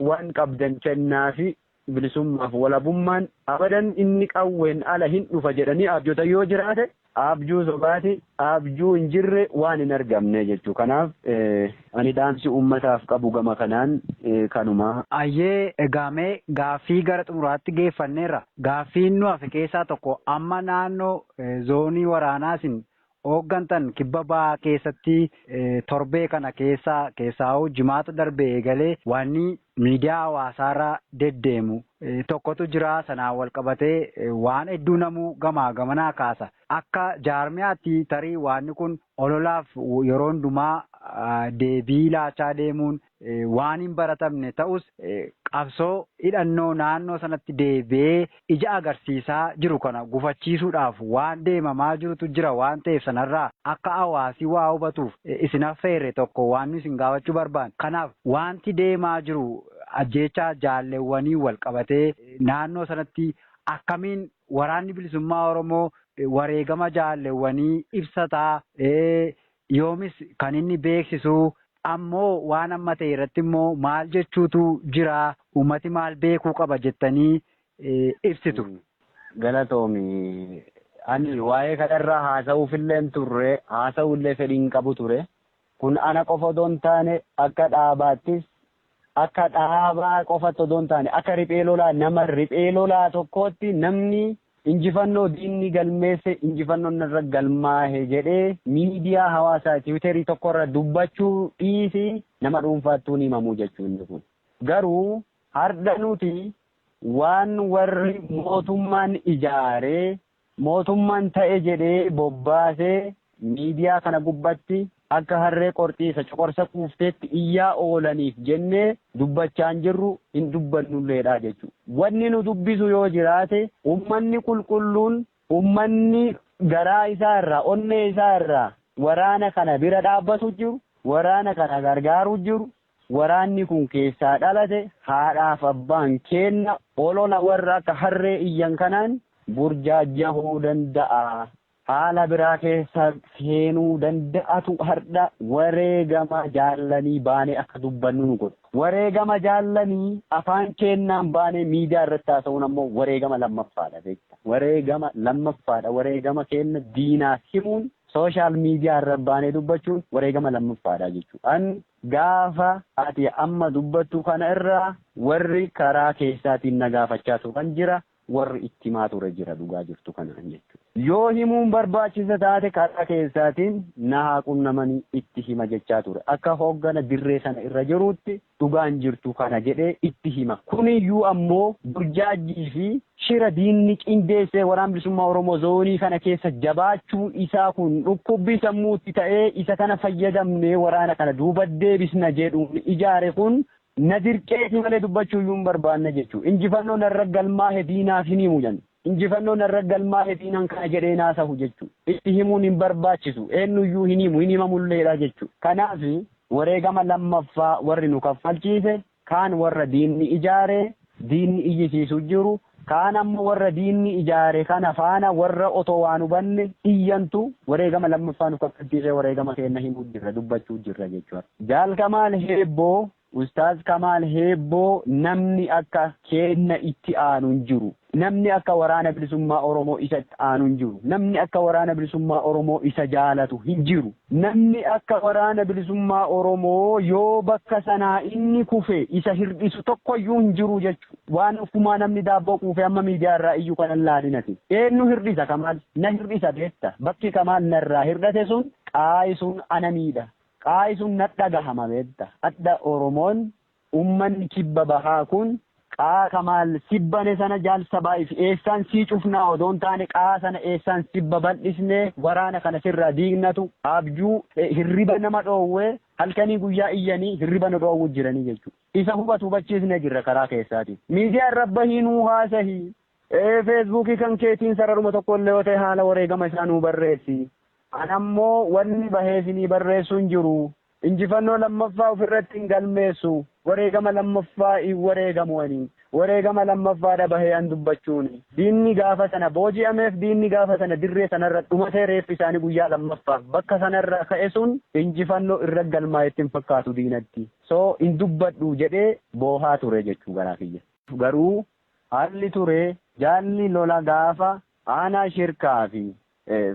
[SPEAKER 2] waan qabdan kennaafi bilisummaaf walabummaan abadan inni qawween ala hin dhufa jedhanii abjotan yoo jiraate Aabjuu sobaati, aabjuu hin jirre waan hin argamne jechuu. Kanaaf ani dhaamsi uummataaf qabu gama kanaan kanuma. Ayyee egaa
[SPEAKER 1] mee gaaffii gara xumuraatti geeffanneerra. Gaaffiin nu hafe keessaa tokko amma naannoo zoonii waraanaa isin hooggantan kibba bahaa keessatti torbee kana keessa keessaahuu jimaata darbee eegalee waanni miidiyaa hawaasaarra deddeemu tokkotu jira. Sanaan walqabatee waan hedduu namuu gamaa gamanaa kaasa. Akka jaarmiyaatti tarii waanni kun ololaaf yeroo hundumaa deebii laachaa deemuun waan hinbaratamne ta'us, qabsoo hidhannoo naannoo sanatti deebi'ee ija agarsiisaa jiru kana gufachiisuudhaaf waan deemamaa jirutu jira waan ta'eef sanarraa akka hawaasi waa hubatuuf isin affeerre tokko waan nu isin gaafachuu barbaanne. Kanaaf waanti deemaa jiru ajjeechaa jaalleewwaniin wal qabatee naannoo sanatti akkamiin Waraanni Bilisummaa Oromoo wareegama jaalleewwanii ibsataa? yoomis kan inni beeksisu ammoo waan amma ta'e irratti immoo maal jechuutu jira uummati maal beekuu qaba jettanii ibsitu? Galatoomi.
[SPEAKER 2] Ani waa'ee kanarraa haasa'uufillee hin turre, haasa'uullee fedhii hin qabu ture. Kun ana qofa otoo hin taane akka dhaabaattis akka dhaabaa qofatti odoo hin taane akka riphee lolaa nama riphee lolaa tokkootti namni injifannoo diinni galmeesse injifannoon narra galmaahe jedhee miidiyaa hawaasaa tiwiiterii tokkorra dubbachuu dhiisi nama dhuunfaattuu ni himamu jechuu inni kun. Garuu hardha nuti waan warri mootummaan ijaaree Mootummaan ta'e jedhee bobbaasee miidiyaa kana gubbatti akka harree qorxii isa coqorsa quufteetti iyyaa oolaniif jennee dubbachaa hin jirru, hin dubbannulleedha jechuudha. Wanni nu dubbisu yoo jiraate ummanni qulqulluun, ummanni garaa isaa irraa, onnee isaa irraa waraana kana bira dhaabbatu jiru, waraana kana gargaaru jiru, Waraanni kun keessaa dhalate haadhaaf abbaan keenna olola warra akka harree iyyan kanaan burjaajjahuu danda'a. Haala biraa keessa seenuu danda'atu hardha wareegama jaallanii baanee akka dubbannu nu godhe. Wareegama jaallanii afaan keennaan baanee miidiyaa irratti haasa'uun ammoo wareegama lammaffaadha beekta. Wareegama lammaffaadha. Wareegama keenna diinaaf himuun sooshaal miidiyaa irra baanee dubbachuun wareegama lammaffaadha jechuudha. An Gaafa ati amma dubbattu kana irraa warri karaa keessaatiin na gaafachaa turan jira, warri itti himaa ture jira dhugaa jirtu kanaan jechuudha. Yoo himuun barbaachisa taate karaa keessaatiin na haa qunnamanii itti hima jechaa ture. Akka hooggana dirree sana irra jiruutti dhugaan jirtu kana jedhee itti hima. Kuniyyuu ammoo burjaajjii fi Shira diinni qindeessee Waraan Bilisummaa Oromoo zoonii kana keessa jabaachuu isaa kun dhukkubbii sammuutti ta'ee isa kana fayyadamnee waraana kana duuba deebisna jedhuun ijaare kun na dirqeeti malee dubbachuuyyuu hin barbaanne jechuun injifannoo narra galmaahe diinaaf hin himu jedhan. Injifannoo narra galmaahe diinaan kana jedhee hin haasahu jechuun itti himuun hin barbaachisu eenyuyyuu hin himu hin himamulleedha jechuun kanaaf wareegama lammaffaa warri nu kaffalchiise Kaan warra diinni ijaare, diinni iyyisiisu jiru, kaan ammoo warra diinni ijaare kana faana warra otoo waa hin hubanne iyyantu wareegama lammaffaa nu kaffalchiisee wareegama keenna himuu jirra, dubbachuu jirra jechuu dha. Jaal Kamaal Heebboo, Ustaaz Kamaal Heebboo namni akka keenna itti aanu hin jiru. Namni akka Waraana Bilisummaa Oromoo isa itti aanu hin jiru. Namni akka Waraana Bilisummaa Oromoo isa jaalatu hin jiru. Namni akka Waraana Bilisummaa Oromoo yoo bakka sanaa inni kufe isa hir'isu tokko iyyuu hin jiru jechu. Waan offumaa namni daabboo quufee amma miidiyaa irraa iyyu kana hin laalin ati. Eennu hir'isa Kamaal? Na hir'isa beekta. Bakki Kamaal narraa hir'ate sun qaayi sun ana miidha. Qaayi sun nadhagahama beekta. Adha Oromoon Ummanni kibba bahaa kun qaa kamaal sibbane sana jaal sabaif eessaan sii cufnaa odoo hin taane qaa sana eessaan sibba baldhisne waraana kana sirraa diignatu abjuu hirriba nama dhoowwe halkanii guyyaa iyyanii hirriba nu dhoowwu jiranii jechuu isa hubatu hubachiisne jirra karaa keessaatiin miidiyaa irra bahii nuu haasahi feesbuukii kan keetiin sararuma tokko illee yoo ta'e haala wareegama isaa nuu barreessi an ammoo wanni bahee sinii barreessu hin jiru Injifannoo lammaffaa of irratti hin galmeessu, wareegama lammaffaa hin wareegamu ani. Wareegama lammaffaa dha bahee an dubbachuun. Diinni gaafa sana booji'ameef diinni gaafa sana dirree sana irra dhumatee reeffi isaanii guyyaa lammaffaaf bakka sana irraa ka'e sun injifannoo irra galmaa'e itti hin fakkaatu diinatti. So hin dubbadhu jedhee boohaa ture jechuu garaa kiyya. Garuu haalli ture jaalli lola gaafa aanaa shirkaa fi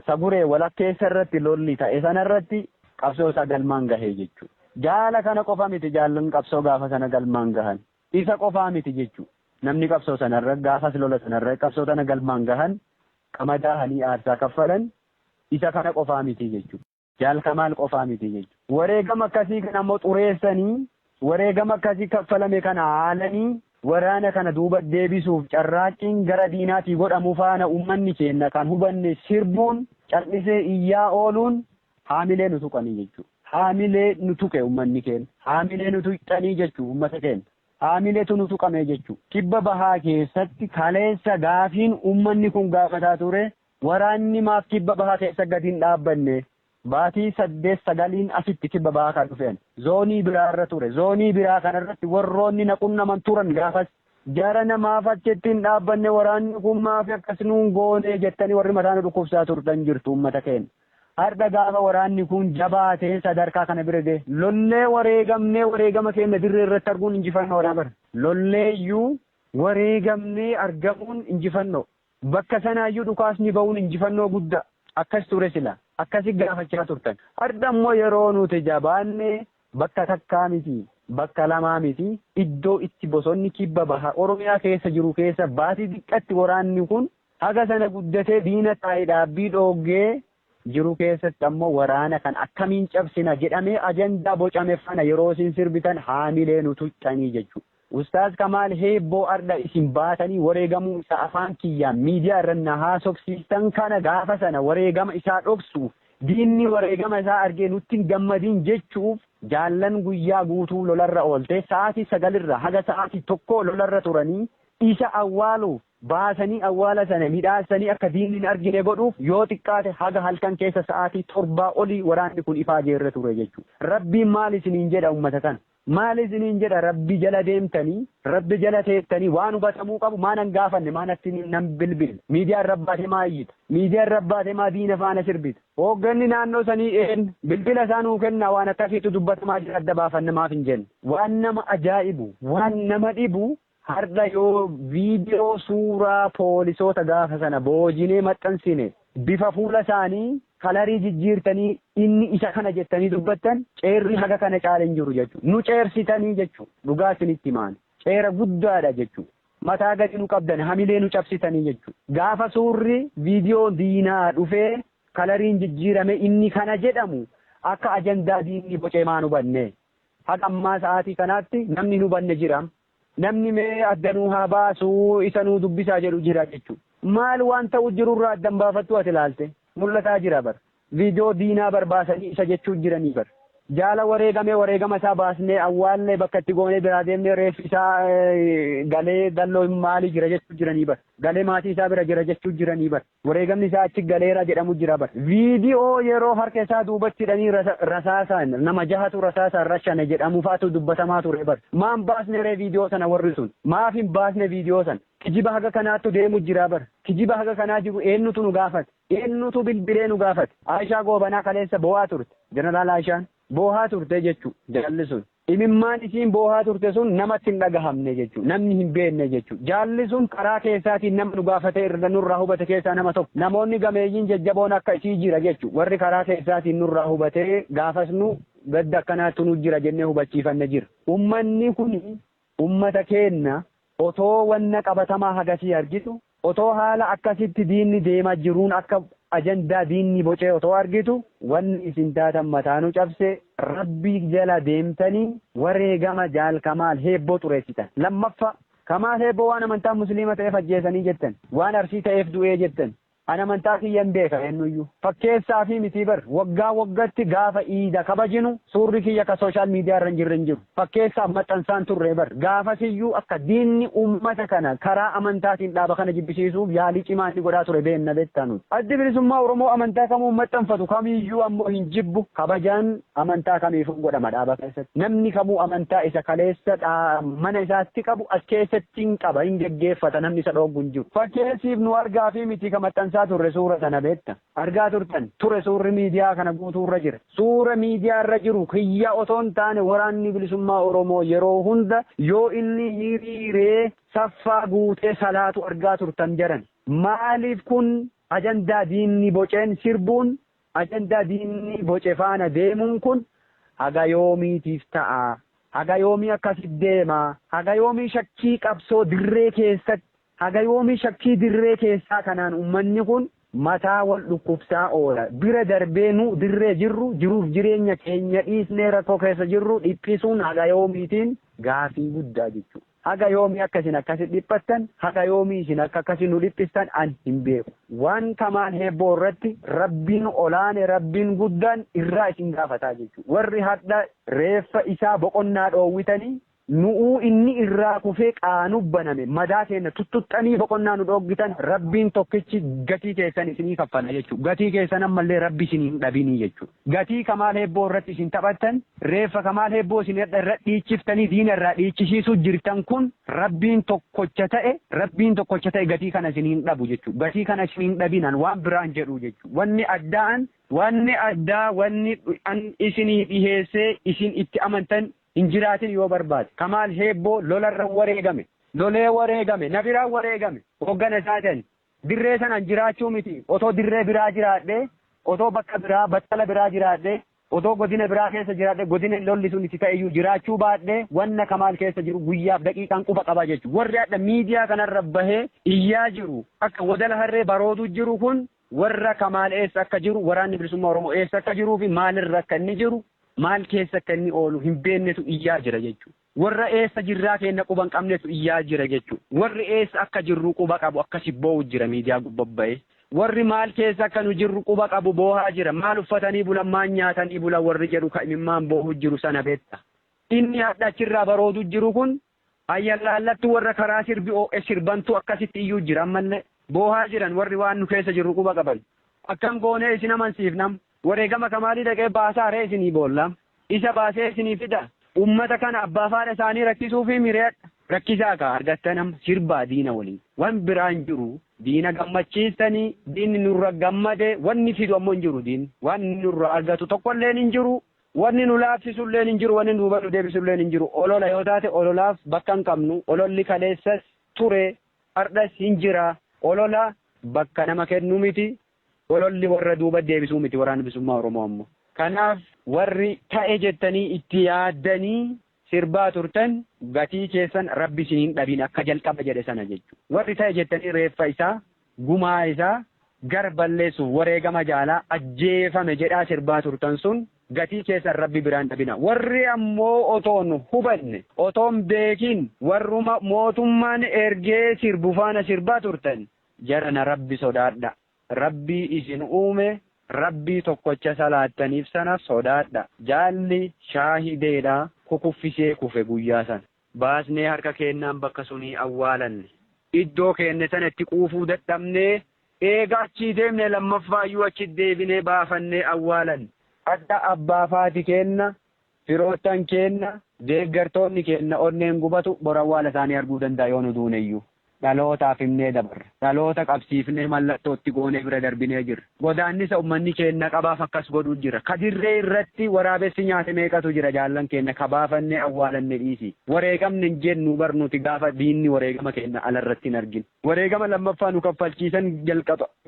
[SPEAKER 2] Saguree walakkeessa irratti lolli ta'e sana irratti qabsoo isaa galmaan gahee jechuudha. Jaala kana qofa miti jaallan qabsoo gaafa sana galmaan gahan. Isa qofaa miti jechuudha. Namni qabsoo sana irra gaafas lola sana irra qabsoo tana galmaan gahan qama daahanii aarsaa kaffalan isa kana qofaa miti jechuudha. Jaal Kamaal qofaa miti jechuudha. Wareegama akkasii kana immoo xureessanii, wareegama akkasii kaffalame kana haalanii waraana kana duuba deebisuuf carraaqqiin gara diinaatii godhamu faana uummanni keenya kan hubanne sirbuun, cal'isee iyyaa ooluun haamilee nu tuqanii jechuudha. Haamilee nu tuqe uummanni keenya. Haamilee nu tuqxanii jechuudha uummata keenya. Haamileetu nu tuqame jechuudha. Kibba Bahaa keessatti kaleessa gaafiin uummanni kun gaafataa ture Waraanni maaf kibba bahaa keessa gadi hin dhaabbanne? Baatii saddeet sagaliin asitti kibba bahaa kan dhufe ani. Zoonii biraa irra ture. Zoonii biraa kana irratti warroonni na qunnaman turan gaafas. Jarana maaf achitti hin dhaabbanne waraanni kun maaf akkas nuun goone jettanii warri mataa nu dhukkubsaa turtan jirtu uummata keenya. Hardha gaafa waraanni kun jabaatee sadarkaa kana bira gahe lollee wareegamnee wareegama keenya dirree irratti arguun injifannoodha bar. Lollee iyyuu wareegamnee argamuun injifannoo. Bakka sanaayyuu dhukaasni ba'uun injifannoo guddaa. Akkas ture silaa. Akkasi gaafachaa turtan. Hardha immoo yeroo nuti jabaanne bakka takkaa miti, bakka lamaa miti, iddoo itti bosonni kibba baha Oromiyaa keessa jiru keessa baatii diqqatti waraanni kun haga sana guddatee diina taa'e dhaabbii dhooggee jiru keessatti ammoo waraana kana akkamiin cabsina jedhamee ajandaa bocame fana yeroo isin sirbitan haamilee nu tuqxanii jechuu Ustaaz Kamaal Heebboo ardha isin baatanii wareegamuu isaa afaan kiyyaan miidiyaa irra na haasofsiistan kana gaafa sana wareegama isaa dhoksuuf diinni wareegama isaa argee nutti hin gammadiin jechuuf jaallan guyyaa guutuu lolarra oolte sa'aatii sagalirra haga sa'aatii tokkoo lolarra turanii isa awwaaluuf baasanii awwaala sana midhaassanii akka diinni hin argine godhuuf yoo xiqqaate haga halkan keessa sa'aatii torbaa olii waraanni kun ifaajee irra ture jechuudha. Rabbiin maal isiniin jedha ummata kana? Maal isiniin jedha Rabbi jala deemtanii, Rabbi jala teettanii waan hubatamuu qabu maa nan gaafanne, maa natti nan bilbille, miidiyaa irra baate maa iyyita, miidiyaa irra baate maa diina faana sirbita, hoogganni naannoo sanii een, bilbila isaa nuu kennaa waan akkasiitu dubbatamaa jira adda baafanna maaf hin jenne? Waan nama ajaa'ibu, waan nama dhibu Hardha yoo viidiyoo suuraa poolisoota gaafa sana boojinee maxxansine bifa fuula isaanii kalarii jijjiirtanii inni isa kana jettanii dubbattan ceerri haga kana caale hin jiru jechuudha. Nu ceersitanii jechuudha. Dhugaa isinitti himaani. Ceera guddaadha jechuudha. Mataa gadi nu qabdani hamilee nu cabsitanii jechuudha. Gaafa suurri viidiyoon diinaa dhufee kalariin jijjiirame inni kana jedhamu akka ajandaa diinni bocee maan hubannee? Haga ammaa sa'aatii kanaatti namni hin hubanne jiraam? Namni mee adda nuu haa baasu, isa nuu dubbisaa jedhu jira jechuu. Maal waan ta'uu jiru irraa adda hin baafattuu ati ilaalte? Mul'ataa jira bar. Viidiyoo diinaa bar baasanii isa jechuu jiranii bar. Jaala wareegame wareegama isaa baasnee awwaalle bakka itti goonee biraa deemnee reeffi isaa galee dalloo maali jira jechuu jiranii bar. Galee maatii isaa bira jira jechuu jiranii bar. Wareegamni isaa achi galeera jedhamu jira bar. Viidiyoo yeroo harka isaa duubatti hidhanii rasaasaan nama jahatu rasaasaan rashane jedhamu fa'atu dubbatamaa ture bar. Maa hin baasne ree viidiyoo sana warri sun? Maaf hin baasne viidiyoo sana? Kijiba haga kanaattu deemu jira bar. Kijiba haga kanaa jiru eennutu nu gaafate? Eennutu bilbilee nu gaafate? Aayishaa Goobanaa kaleessa boo'aa turte. Jeneraal Aayishaan boohaa turte jechuu jaalli sun. Imimmaan isiin boohaa turte sun namatti hin dhagahamne jechuudha. Namni hin beekne jechuudha. Jaalli sun karaa keessaatiin nama nu gaafate irra nurraa hubate keessaa nama tokko. Namoonni gameeyyiin jajjaboon akka isii jira jechuudha. Warri karaa keessaatiin nurraa hubatee gaafas nu gadda akkanaattu nu jira jennee hubachiifanne jira. Ummanni kun ummata keenna Otoo wanna qabatamaa hagasii argitu, otoo haala akkasitti diinni deema jiruun akka ajandaa diinni bocee otoo argitu, wanni isin taatan mataa nu cabse, Rabbi jala deemtanii wareegama Jaal Kamaal Heebboo xureessitan. Lammaffaa, Kamaal Heebboo waan amantaan Musliima ta'eef ajjeesanii jettan, waan Arsii ta'eef du'ee jettan, An amantaa kiyyan beeka eennuyyuu fakkeessaafi mitii bar waggaa waggatti gaafa iida kabajinu suurri kiyya ka social media irra hin jirre hin jiru fakkeessaaf maxxansaan turree bar gaafasiyyuu akka diinni ummata kana karaa amantaatiin dhaaba kana jibbisiisuuf yaalii cimaa inni godhaa ture beenna beektaa nuti addi bilisummaa oromoo amantaa kamuu maxxanfatu kamiyyuu ammoo hin jibbu kabajaan Amantaa kamiifuu godhama dhaaba keessatti. Namni kamuu amantaa isa kaleessa mana isaatti qabu as keessatti hin qaba, hin geggeeffata, namni isa dhooggu hin jiru. Fakkeessiif nu argaafii miti ka maxxansaa turre suura sana beekta. Argaa turtan? Ture suurri miidiyaa kana guutuu irra jira. Suura miidiyaa irra jiru kiyya otoo hin taane Waraanni Bilisummaa Oromoo yeroo hunda yoo inni hiriiree saffaa guutee salaatu argaa turtan jarana. Maaliif kun ajandaa diinni boceen sirbuun Ajandaa diinni boce faana deemuun kun haga yoomiitiif ta'a? Haga yoomii akkasi deema? Haga yoomii shakkii qabsoo dirree keessatti? Haga yoomii shakkii dirree keessaa kanaan ummanni kun mataa wal dhukkubsaa oola? Bira darbee nu dirree jirru jiruuf jireenya keenya dhiisnee rakkoo keessa jirru dhiphisuun haga yoomiitiin gaafii guddaa jechuu. Haga yoomii akka isin akkasi dhiphattan, haga yoomii isin akka akkasi nu dhiphistan an hin beeku. Waan kamaan heebboo irratti Rabbiin olaane, Rabbiin guddaan irraa isin gaafataa jechu. Warri hardha reeffa isaa boqonnaa dhoowwitanii, nu'uu inni irraa kufee qaanuf baname, madaa keenna tuttuxxanii boqonnaa nu dhooggitan, Rabbiin tokkichi gatii keessan isinii kaffala jechu. Gatii keessan ammallee Rabbi isinii hin dhabinii jechu. Gatii Kamaal Hebboo irratti isin taphattan, reeffa Kamaal Hebboo isin irra dhiichiftanii diina irraa dhiichisiisuu jirtan kun Rabbiin tokkocha ta'e, Rabbiin tokkocha ta'e gatii kana isin hin dhabu jechuudha. Gatii kana isin hin dhabin an waan biraa hin jedhu jechuudha. Wanni addaa an. Wanni addaa wanni an isinii dhiheessee isin itti amantan hin jiraatin yoo barbaade. Kamaal Hebboo lola irra wareegame. Lolee wareegame. Na biraa wareegame. Hooggana isaati ani. Dirree sanaan jiraachuu miti, otoo dirree biraa jiraadhee, otoo bakka biraa, battala biraa jiraadhee, otoo godina biraa keessa jiraadhee, godina lolli sun itti ta'eyyuu jiraachuu baadhee wanna Kamaal keessa jiru guyyaaf daqiiqaan quba qaba jechuudha. Warri hadha miidiyaa kanarra bahee iyyaa jiru, akka wadala harree baroodu jiru kun warra Kamaal eessa akka jiru, Waraanni Bilisummaa Oromoo eessa akka jiruufi maalirra akka inni jiru, maal keessa akka inni oolu hin beennetu iyyaa jira jechuudha. Warra eessa jirraa keenna quba hin qabnetu iyyaa jira jechu. Warri eessa akka jirru quba qabu akkasi boowu jira miidiyaa gubba bahe. Warri maal keessa akka nu jirru quba qabu boohaa jira. Maal uffatanii bulan maal nyaatanii bulan warri jedhu ka imimmaan boohu jiru sana betta. Inni hadha achirraa baroodu jiru kun ayyallaallattu warra karaa sirbi oo'e sirbantu akkasitti iyyuu jira ammallee. Boohaa jiran warri waan nu keessa jirru quba qaban. Akkam goonee isin amansiifna amma? Wareegama kamaalii dhaqee baasaa ree isinii boolla isa baasee isinii fida ummata kana abbaa faadha isaanii rakkisuufii miriyadha rakkisaa kaa argattan amma sirbaa diina waliin wan biraa hin jiru diina gammachiistanii diinni nurra gammade wanni fidu ammoo hin jiru diinni wanni nurra argatu tokkolleen hin jiru wanni nu laaffisulleen hin jiru wanni duuba nu deebisulleen hin jiru olola yoo taate ololaaf bakka hin qabnu ololli kaleessas ture ardhas hin jira olola bakka nama kennu miti Ololli warra duuba deebisuu miti Waraanni Bilisummaa Oromoo ammoo. Kanaaf warri ta'e jettanii itti yaaddanii sirbaa turtan gatii keessan Rabbi isin hin dhabin akka jalqaba jedhe sana jechu. Warri ta'e jettanii reeffa isaa, gumaa isaa, gar balleessuuf wareegama jaalaa ajjeefame jedhaa sirbaa turtan sun gatii keessan Rabbi biraa hin dhabina. Warri ammoo otoon hubanne, otoon beekin warruma mootummaan ergee sirbu faana sirbaa turtan Jarana Rabbi sodaadha. Rabbii isin uume Rabbii tokkocha salaattaniif sana sodaadha. Jaalli shaahideedha kukuffisee kufe guyyaa sana. Baasnee harka keennaan bakka sunii awwaalanne. Iddoo keenne sana itti quufuu dadhabnee eega achii deemne lammaffaayyuu achi deebinee baafannee awwaalanne. Hadha abbaa fi haati keenna Firoottan keenna, deeggartoonni keenna onneen gubatu bor awwaala isaanii arguu danda'a yoo nu duuneyyuu. Dhalootaaf himnee dabarra. Dhaloota qabsiifnee mallattoo itti goonee bira darbinee jirra. Godaannisa ummanni keenna qabaaf akkas godhu jira. Ka dirree irratti waraabessi nyaate meeqatu jira jaallan keenna ka baafannee awwaalanne dhiisii. Wareegamne hin jennu bar nuti gaafa diinni wareegama keenna ala irratti hin argin. Wareegama lammaffaa nu kaffalchiisan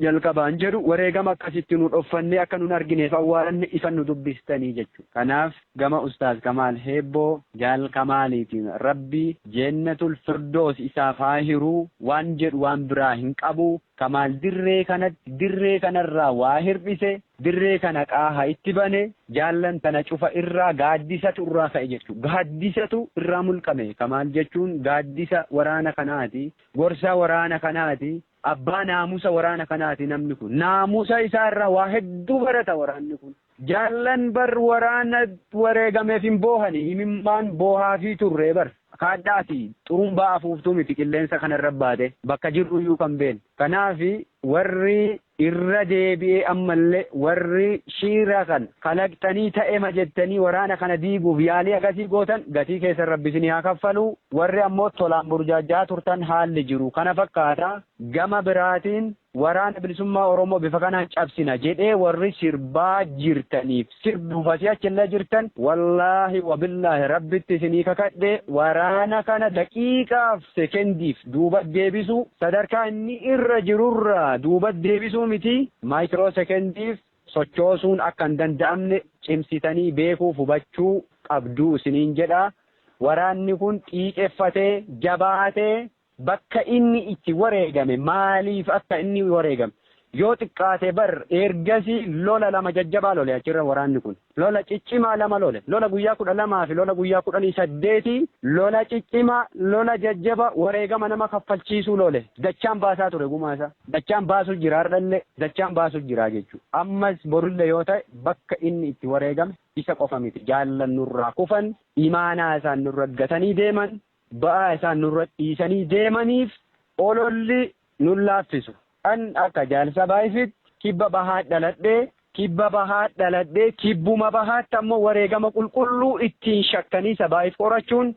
[SPEAKER 2] jalqabaan jedhu wareegama akkas itti nu dhoffannee akka nun argineef awwaalanne isan nu dubbistanii jechuudha. Kanaaf gama Ustaaz Kamaal Heebboo, Jaal Kamaaliitiin Rabbi Jeennatul Firdoos isaaf haa hiru waan jedhu waan biraa hin qabu. Kamaal dirree kanatti, dirree kanarraa waa hirdhise, Dirree kana qaaha itti bane, jaallan tana cufa irraa gaaddisatu irraa ka'e jechu. Gaaddisatu irraa mulqame ka maal jechuun gaaddisa waraana kanaati, gorsa waraana kanaati, abbaa naamusa waraana kanaati namni kun. Naamusa isaa irraa waa hedduu barata waraanni kun. Jaallan bar waraana wareegameef hin boohani, imimmaan boohaafii turre bar. Kaadhaa ati xurumbaa afuuftuu miti qilleensa kanarra baate, bakka jirruyyuu kan beeknu. Kanaaf warri Irra deebi'ee ammallee warri shiira kan kalaqxanii ta'ema jettanii waraana kana diiguuf yaalii akkasii gootan gatii keessan Rabbi isinii haa kaffalu, warri ammoo tolaan burjaajja'aa turtan haalli jiru kana fakkaata. Gama biraatiin Waraana Bilisummaa Oromoo bifa kanaan cabsina jedhee warri sirbaa jirtaniif, sirbuuf asii achillee jirtan wallaahi wabillaahi rabbitti isinii kakadhe waraana kana daqiiqaaf sekendiif duuba deebisuu sadarkaa inni irra jirurraa duuba deebisuu miti maayikiroo sekendiif sochoosuun akka hin danda'amne cimsitanii beekuuf hubachuu qabduu isiniin jedha waraanni kun xiiqeffatee jabaatee Bakka inni itti wareegame, maaliif akka inni wareegame, yoo xiqqaate bar ergasii lola lama jajjabaa lole achirra waraanni kun. Lola ciccimaa lama lole. Lola guyyaa 12 fi lola guyyaa 18 lola ciccimaa, lola jajjabaa wareegama nama kaffalchiisuu lole. Dachaan baasaa ture gumaa isaa. Dachaan baasu jira hardhallee. Dachaan baasu jira jechuu. Ammas borullee yoo ta'e bakka inni itti wareegame isa qofa miti. Jaallan nurraa kufan, imaanaa isaan nurra gatanii deeman, ba'aa isaan nurra dhiisanii deemaniif ololli nun laaffisu. An akka Jaal Sabaayifiitti Kibba Bahaat dhaladhe, Kibba Bahaat dhaladhe, Kibbuma Bahaatti ammoo wareegama qulqulluu ittiin shakkanii Sabaayif qorachuun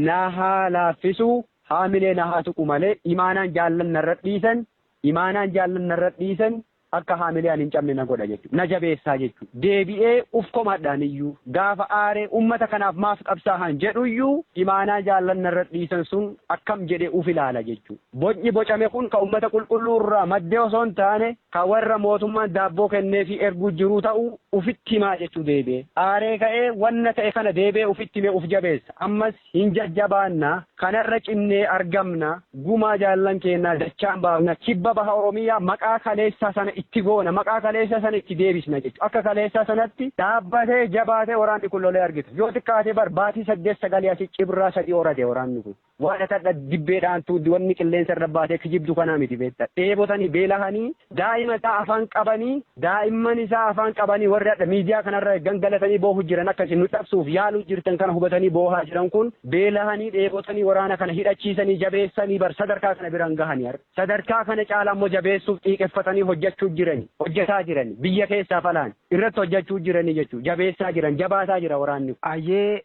[SPEAKER 2] na haa laaffisu, haamilee na haa tuqu malee imaanaan jaallan narra dhiisan, imaanaan jaallan narra dhiisan, Akka haamilee ani hin cabne na godha jechuudha. Na jabeessaa jechuudha. Deebi'ee uf komadhaaniyyuu, gaafa aaree ummata kanaaf maaf qabsaahan jedhuyyuu imaanaa jaallan narra dhiisan sun akkam jedhee uf ilaala jechuudha. Bocni bocame kun ka ummata qulqulluu irraa madde osoo hin taane ka warra mootummaan daabboo kenneefii erguu jiruu ta'uu ufitti himaa jechuudha deebi'ee. Aaree ka'ee wanna ta'e kana deebi'ee ufitti himee uf jabeessa. Ammas Hin jajjabaanna, kanarra cimnee argamna, gumaa jaallan keennaa dachaan baafna, kibba baha Oromiyaa maqaa kaleessaa sana itti goona, maqaa kaleessaa sana itti deebisna jechuudha. Akka kaleessaa sanatti dhaabbatee, jabaatee waraanni kun lolee argita. Yoo xiqqaate bar baatii saddeet sagalii asi cibraa sadii horate waraanni kun. Waan ati hadha dibbee dhaantu, wanni qilleensa irra baatee kijibdu kana miti beekta. Dheebotanii, beelahanii, Daa'ima isaa afaan qabanii daa'imman isaa afaan qabanii warri hadha miidiyaa kanarra gangalatanii boohu jiran akka isin nu cabsuuf yaaluu jirtan kana hubatanii boohaa jiran kun beelahanii dheebotanii waraana kana hidhachiisanii jabeessanii bar sadarkaa kana biraan gahanii har sadarkaa kana caalaa immoo jabeessuuf xiiqeffatanii hojjechuu jirani hojjetaa jirani biyya keessaaf alaan irratti hojjechuu jiranii jechuu jabeessaa jiran jabaataa jira waraanni kun. Ayyee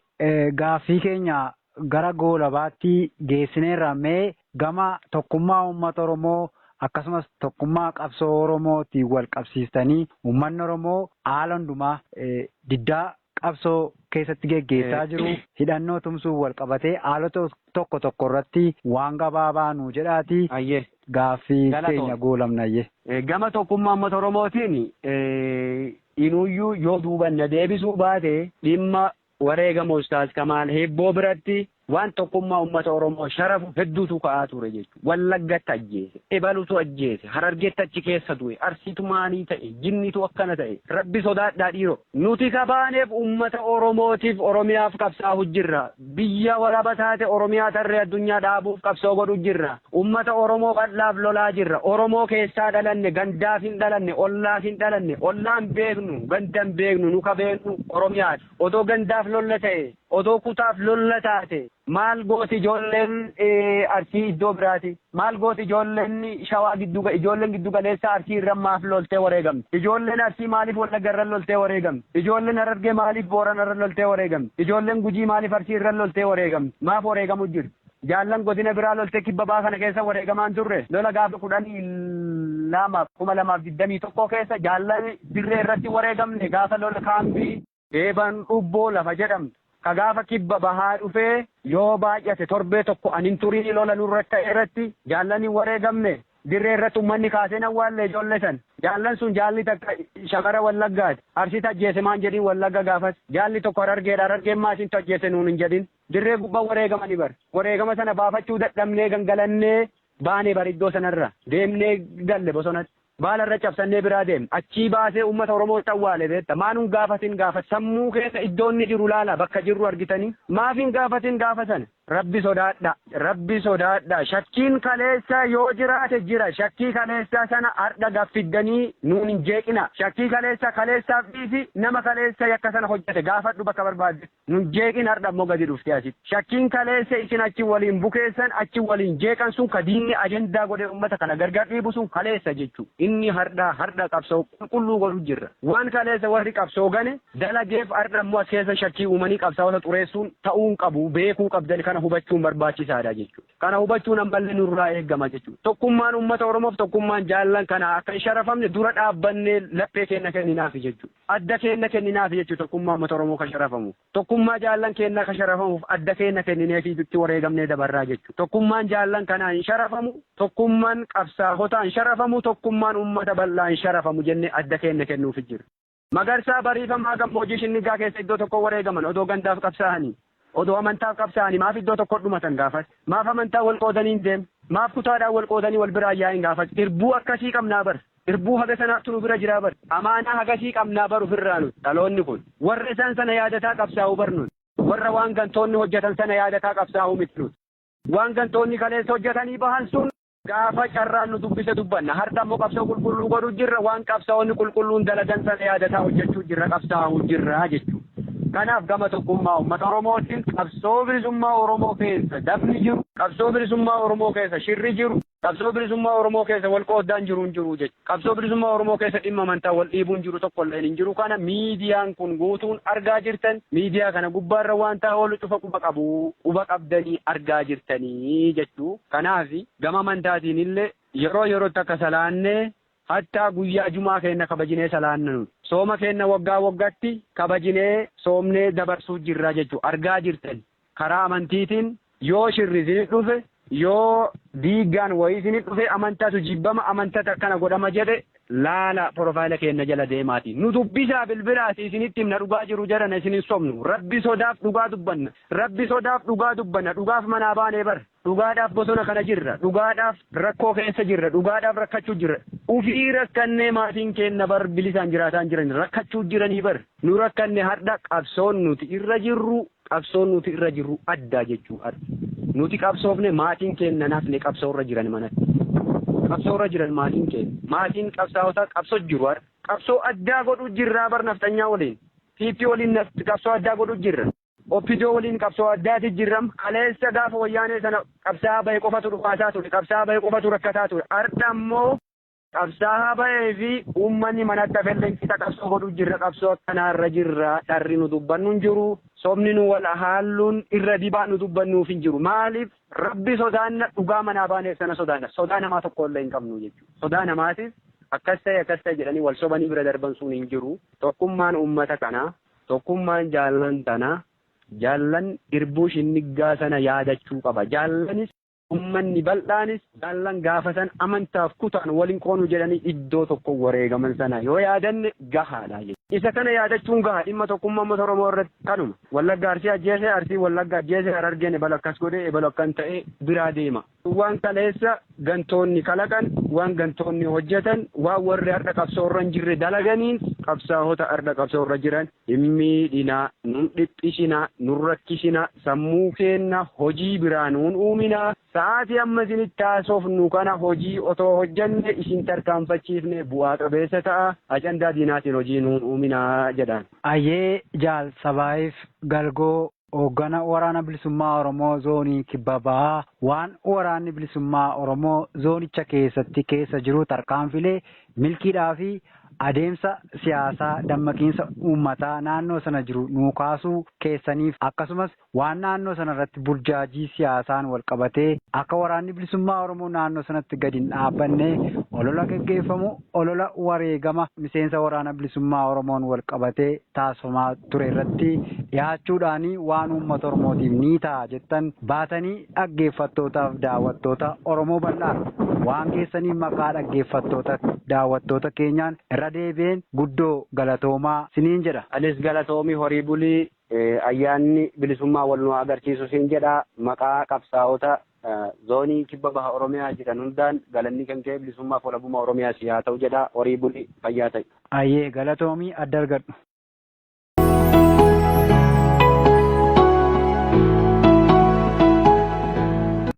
[SPEAKER 1] Gaaffii keenya gara goolabaatti geessineerra. Mee gama tokkummaa uummata Oromoo akkasumas tokkummaa qabsoo Oromootiin wal qabsiistanii uummanni Oromoo haala hundumaa diddaa qabsoo keessatti geggeessaa jiru hidhannoo tumsuun wal qabatee haalota tokko tokko irratti waan gabaabaa nuu jedhaatii Hayyee. gaaffii Galatoom. keenya goolabna. Hayyee. Gama tokkummaa
[SPEAKER 2] uummata Oromootiin Inuuyyuu yoo duuba na deebisuu baate dhimma wareegama Ustaaz Kamaal Hibboo biratti waan tokkummaa ummata Oromoo sharafu hedduutu ka'aa ture jechuudha. Wallaggatti ajjeese, ebalutu ajjeese, Harargeetti achi keessa du'e, Arsiitu maalii ta'e, jinniitu akkana ta'e, Rabbi sodaadhaa dhiiroo! Nuti ka baaneef ummata Oromootiif, Oromiyaaf qabsaa'u jirra. Biyya walaba taate Oromiyaa tarree addunyaa dhaabuuf qabsoo godhu jirra. Ummata Oromoo bal'aaf lolaa jirra. Oromoo keessaa dhalanne, gandaaf hin dhalanne, ollaaf hin dhalanne, ollaa hin beeknu, ganda hin beeknu, nu ka beeknu Oromiyaadha. Otoo gandaaf lolla ta'ee, otoo kutaaf lolla taate maal gooti ijoolleen Arsii iddoo biraatii? Maal gooti ijoolleen Shawaa giddu ijoolleen giddu galeessaa Arsii irra maaf loltee wareegamti? Ijoolleen Arsii maaliif Wallagga irra loltee wareegamti? Ijoolleen Harargee maaliif Boorana irra loltee wareegamti? Ijoolleen Gujii maaliif Arsii irra loltee wareegamti? Maaf wareegamu jirti? Jaallan godina biraa loltee kibba baha kana keessa wareegamaa hin turre? Lola gaafa 12, 2021 keessa jaallan dirree irratti hin wareegamne? Gaafa lola kaambii. Eebaan Dhubboo lafa jedhamtu, ka gaafa kibba bahaa dhufee, yoo baay'ate torbee tokko an hin turinii lola nurratti ka'e irratti jaallan hin wareegamne. Dirree irratti ummanni kaasee hin awwaalle ijoolle san. Jaallan sun jaalli takka shamara Wallaggaati. Arsiitu ajjeese maan jedhin Wallagga gaafas. Jaalli tokko Harargeedha. Harargeen maa isintu ajjeese nuun hin jedhin. Dirree gubba wareegamani bar. Wareegama sana baafachuu dadhabnee gangalannee baane bar iddoo sanarra. Deemnee galle bosonatti. Baala irra cabsannee biraa deemna. Achii baasee uummata Oromootti awwaale beekta. Maa nun gaafatin gaafa sammuu keessa iddoo inni jiru laalaa bakka jirru argitanii? Maaf hin gaafatin gaafa sana? Rabbi sodaadhaa. Rabbi sodaadhaa. Shakkiin kaleessaa yoo jiraate jira. Shakkii kaleessaa sana ardha gad fiddanii nuun hin jeeqinaa. Shakkii kaleessaa kaleessaaf dhiisi nama kaleessa yakka sana hojjete gaafadhu bakka barbaaddetti. Nun jeeqin hardha immoo gadi dhuftee asitti. Shakkiin kaleessa isin achi waliin bukeessan, achi waliin jeeqan sun ka diinni ajandaa godhee ummata kana gargar dhiibu sun kaleessa jechuu. Inni hardhaa hardha qabsoo qulqulluu godhu jirra. Waan kaleessa warri qabsoo gane dalageef hardha immoo as keessa shakkii uumanii qabsaawota xureessuun ta'uu hin qabu beekuu qabdan kana hubachuun barbaachisaadha jechu. Kana hubachuun ammallee nurraa eegama jechuudha. Tokkummaan uummata Oromoof tokkummaan jaallan kanaa akka hin sharafamne dura dhaabbannee laphee keenna kenninaafi jechuudha. Adda keenna kenninaafi jechuudha tokkummaa uummata Oromoo ka sharafamuuf. Tokkummaa jaallan keennaa ka sharafamuuf adda keenna kennineefii itti wareegamnee dabarraa jechuudha. Tokkummaan jaallan kanaa hin sharafamu, tokkumman qabsaahotaa hin sharafamu, tokkummaan uummata bal'aa hin sharafamu jennee adda keenna kennuufi jirra. Magarsaa Bariifamaa Gammoojii Shinnigaa keessa iddoo tokkoo wareegaman odoo gandaaf qabsaa'anii, odoo amantaaf qabsaa'anii maaf iddoo tokkoo dhumatan gaafas? Maaf amantaan wal qoodanii hin deemne? Maaf kutaadhaan wal qoodanii wal biraa hin yaa'in gaafas? Irbuu akkasii qabnaa bar! Irbuu haga sanaattu nu bira jiraa bar! Amaanaa hagasii qabnaa bar ufirraa nuti, dhaloonni kun. Warra isaan sana yaadataa qabsaa'u bar nuti. Warra waan gantoonni hojjatan sana yaadataa qabsaa'u miti nuti. Waan gantoonni kaleessa hojjatanii bahan sun. Gaafa carraan nu dubbise dubbanna. Hardha immoo qabsoo qulqulluu godhu jirra. Waan qabsaa'onni qulqulluun dalagan sana yaadataa hojjechuu jirra, qabsaa'uu jirra jechuu. Kanaaf gama tokkummaa uummata Oromootiin qabsoo bilisummaa Oromoo keessa dafni jiru, qabsoo bilisummaa Oromoo keessa shirri jiru, qabsoo bilisummaa Oromoo keessa wal qooddaan jiru hin jiru jechuudha. Qabsoo bilisummaa Oromoo keessa dhimma amantaa wal dhiibuun jiru tokko illeen hin jiru kana miidiyaan kun guutuun argaa jirtan miidiyaa kana gubbaarra waantaa oolu cufa quba qabu quba qabdanii argaa jirtanii jechuu kanaafi gama amantaatiin illee yeroo yerootti akka salaannee hattaa guyyaa jumaa keenna kabajinee salaanna nuti sooma keenna waggaa waggatti kabajinee soomnee dabarsuu jirra jechuu argaa jirtani. Karaa amantiitiin yoo shirri isinit dhufe, yoo diiggaan wayii isinit dhufe, amantatu jibbama, amantatti akkana godhama jedhe, laalaa profile keenna jala deemaatii nu dubbisaa bilbilaatii isinitti himna dhugaa jiru jarana isin hin sobnu. Rabbi sodaaf dhugaa dubbanna. Rabbi sodaaf dhugaa dubbanna. Dhugaaf manaa baanee bar. Dhugaadhaaf bosona kana jirra. Dhugaadhaaf rakkoo keessa jirra. Dhugaadhaaf rakkachuu jirra. Ufii rakkannee maatiin keenna bar bilisaan jiraataa hin jirani. Rakkachuu jiranii bar. Nu rakkanne hardha qabsoon nuti irra jirru qabsoon nuti irra jirru adda jechuu hardha. Nuti qabsoofne maatiin keenna hin hafne qabsoo irra jiran manatti. Qabsoo irra jiran maatiin keenna. Maatiin qabsaa'otaa qabsoo jiru hardha. Qabsoo addaa godhuu jirraa bar nafxanyaa waliin. PP waliin qabsoo addaa godhuu jirra. Opdo waliin qabsoo addaati jirram. Kaleessa gaafa wayyaanee sana qabsaa'aa bahe qofatu dhukaasaa ture, qabsaa'aa bahe qofatu rakkataa ture. Ardha immoo. Qabsaa'aa bahee fi uummanni manatti hafelleen qixa qabsoo godhu jirra. Qabsoo akkanaa irra jirra. Dharri nu dubbannu hin jiru. Sobni nu wal haalluun irra dibaa nu dubbannuuf hin jiru. Maaliif? Rabbi sodaanna, dhugaa manaa baaneef sana sodaanna. Sodaa namaa tokko illee hin qabnu jechuudha. Sodaa namaatis akkas ta'e akkas ta'e jedhanii wal sobanii bira darban sun hin jiru. Tokkummaan uummata kanaa Tokkummaan jaallan tanaa, jaallan irbuu shinniggaa sana yaadachuu qaba. Jaallanis, ummanni bal'aanis, jaallan gaafa sana amantaaf kutaan wal hin qoonu jedhanii iddoo tokko wareegaman sana yoo yaadanne gahaa dha. Isa kana yaadachuun gaha. Dhimma tokkummaa ummata Oromoo irratti kanuma. Wallagga Arsii ajjeese, Arsiin Wallagga ajjeese, Harargeen ebalu akkas godhe, ebalu akkan ta'e biraa deema. Waan kaleessa gantoonni kalaqan, waan gantoonni hojjetan, waan warri har'a qabsoo irra hin jirre dalaganiins qabsaahota har'a qabsoo irra jiran hin miidhinaa, nun dhiphisinaa, nun rakkisinaa, sammuu keenna hojii biraa nuun uuminaa, sa'aatii amma isinitti haasofnu kana hojii otoo hojjenne isin tarkaanfachiifne bu'aa qabeessa ta'a, ajandaa diinaatiin hojii nuun uuminaa jedhaan. Ayyee Jaal
[SPEAKER 1] Sabaayiif Galgoo. Hooggana Waraana Bilisummaa Oromoo Zoonii Kibba Bahaa waan Waraanni Bilisummaa Oromoo zoonicha keessatti keessa jiru tarkaanfiilee milkiidhaa fi adeemsa siyaasaa dammaqiinsa uummataa naannoo sana jiru nuu kaasuu keessaniif akkasumas waan naannoo sana irratti burjaajii siyaasaan wal qabatee akka Waraanni Bilisummaa Oromoo naannoo sanatti gadi hin dhaabbanne olola geggeeffamu Olola wareegama miseensa Waraana Bilisummaa Oromoon walqabatee taasifamaa ture irratti dhihaachuudhaan waan uummata Oromootiif ni ta'a jettan baatanii dhaggeeffattootaaf daawwattoota Oromoo bal'aaf waan geessaniif maqaa dhaggeeffattoota daawwattoota keenyaan irra deebi'een guddoo galatoomaa siniin jedha. Anis galatoomi
[SPEAKER 2] horii buli. Ayyaanni Bilisummaa wal nu haa agarsiisu siin jedha. Maqaa qabsaa'ota Zoonii kibba baha Oromiyaa jiran hundaan galanni kan kee bilisummaaf walabummaa Oromiyaa sii haa
[SPEAKER 1] ta'u
[SPEAKER 2] jedha horii buli fayyaa ta'i.
[SPEAKER 1] Ayyee
[SPEAKER 2] galatoomi
[SPEAKER 1] adda
[SPEAKER 2] argadhu.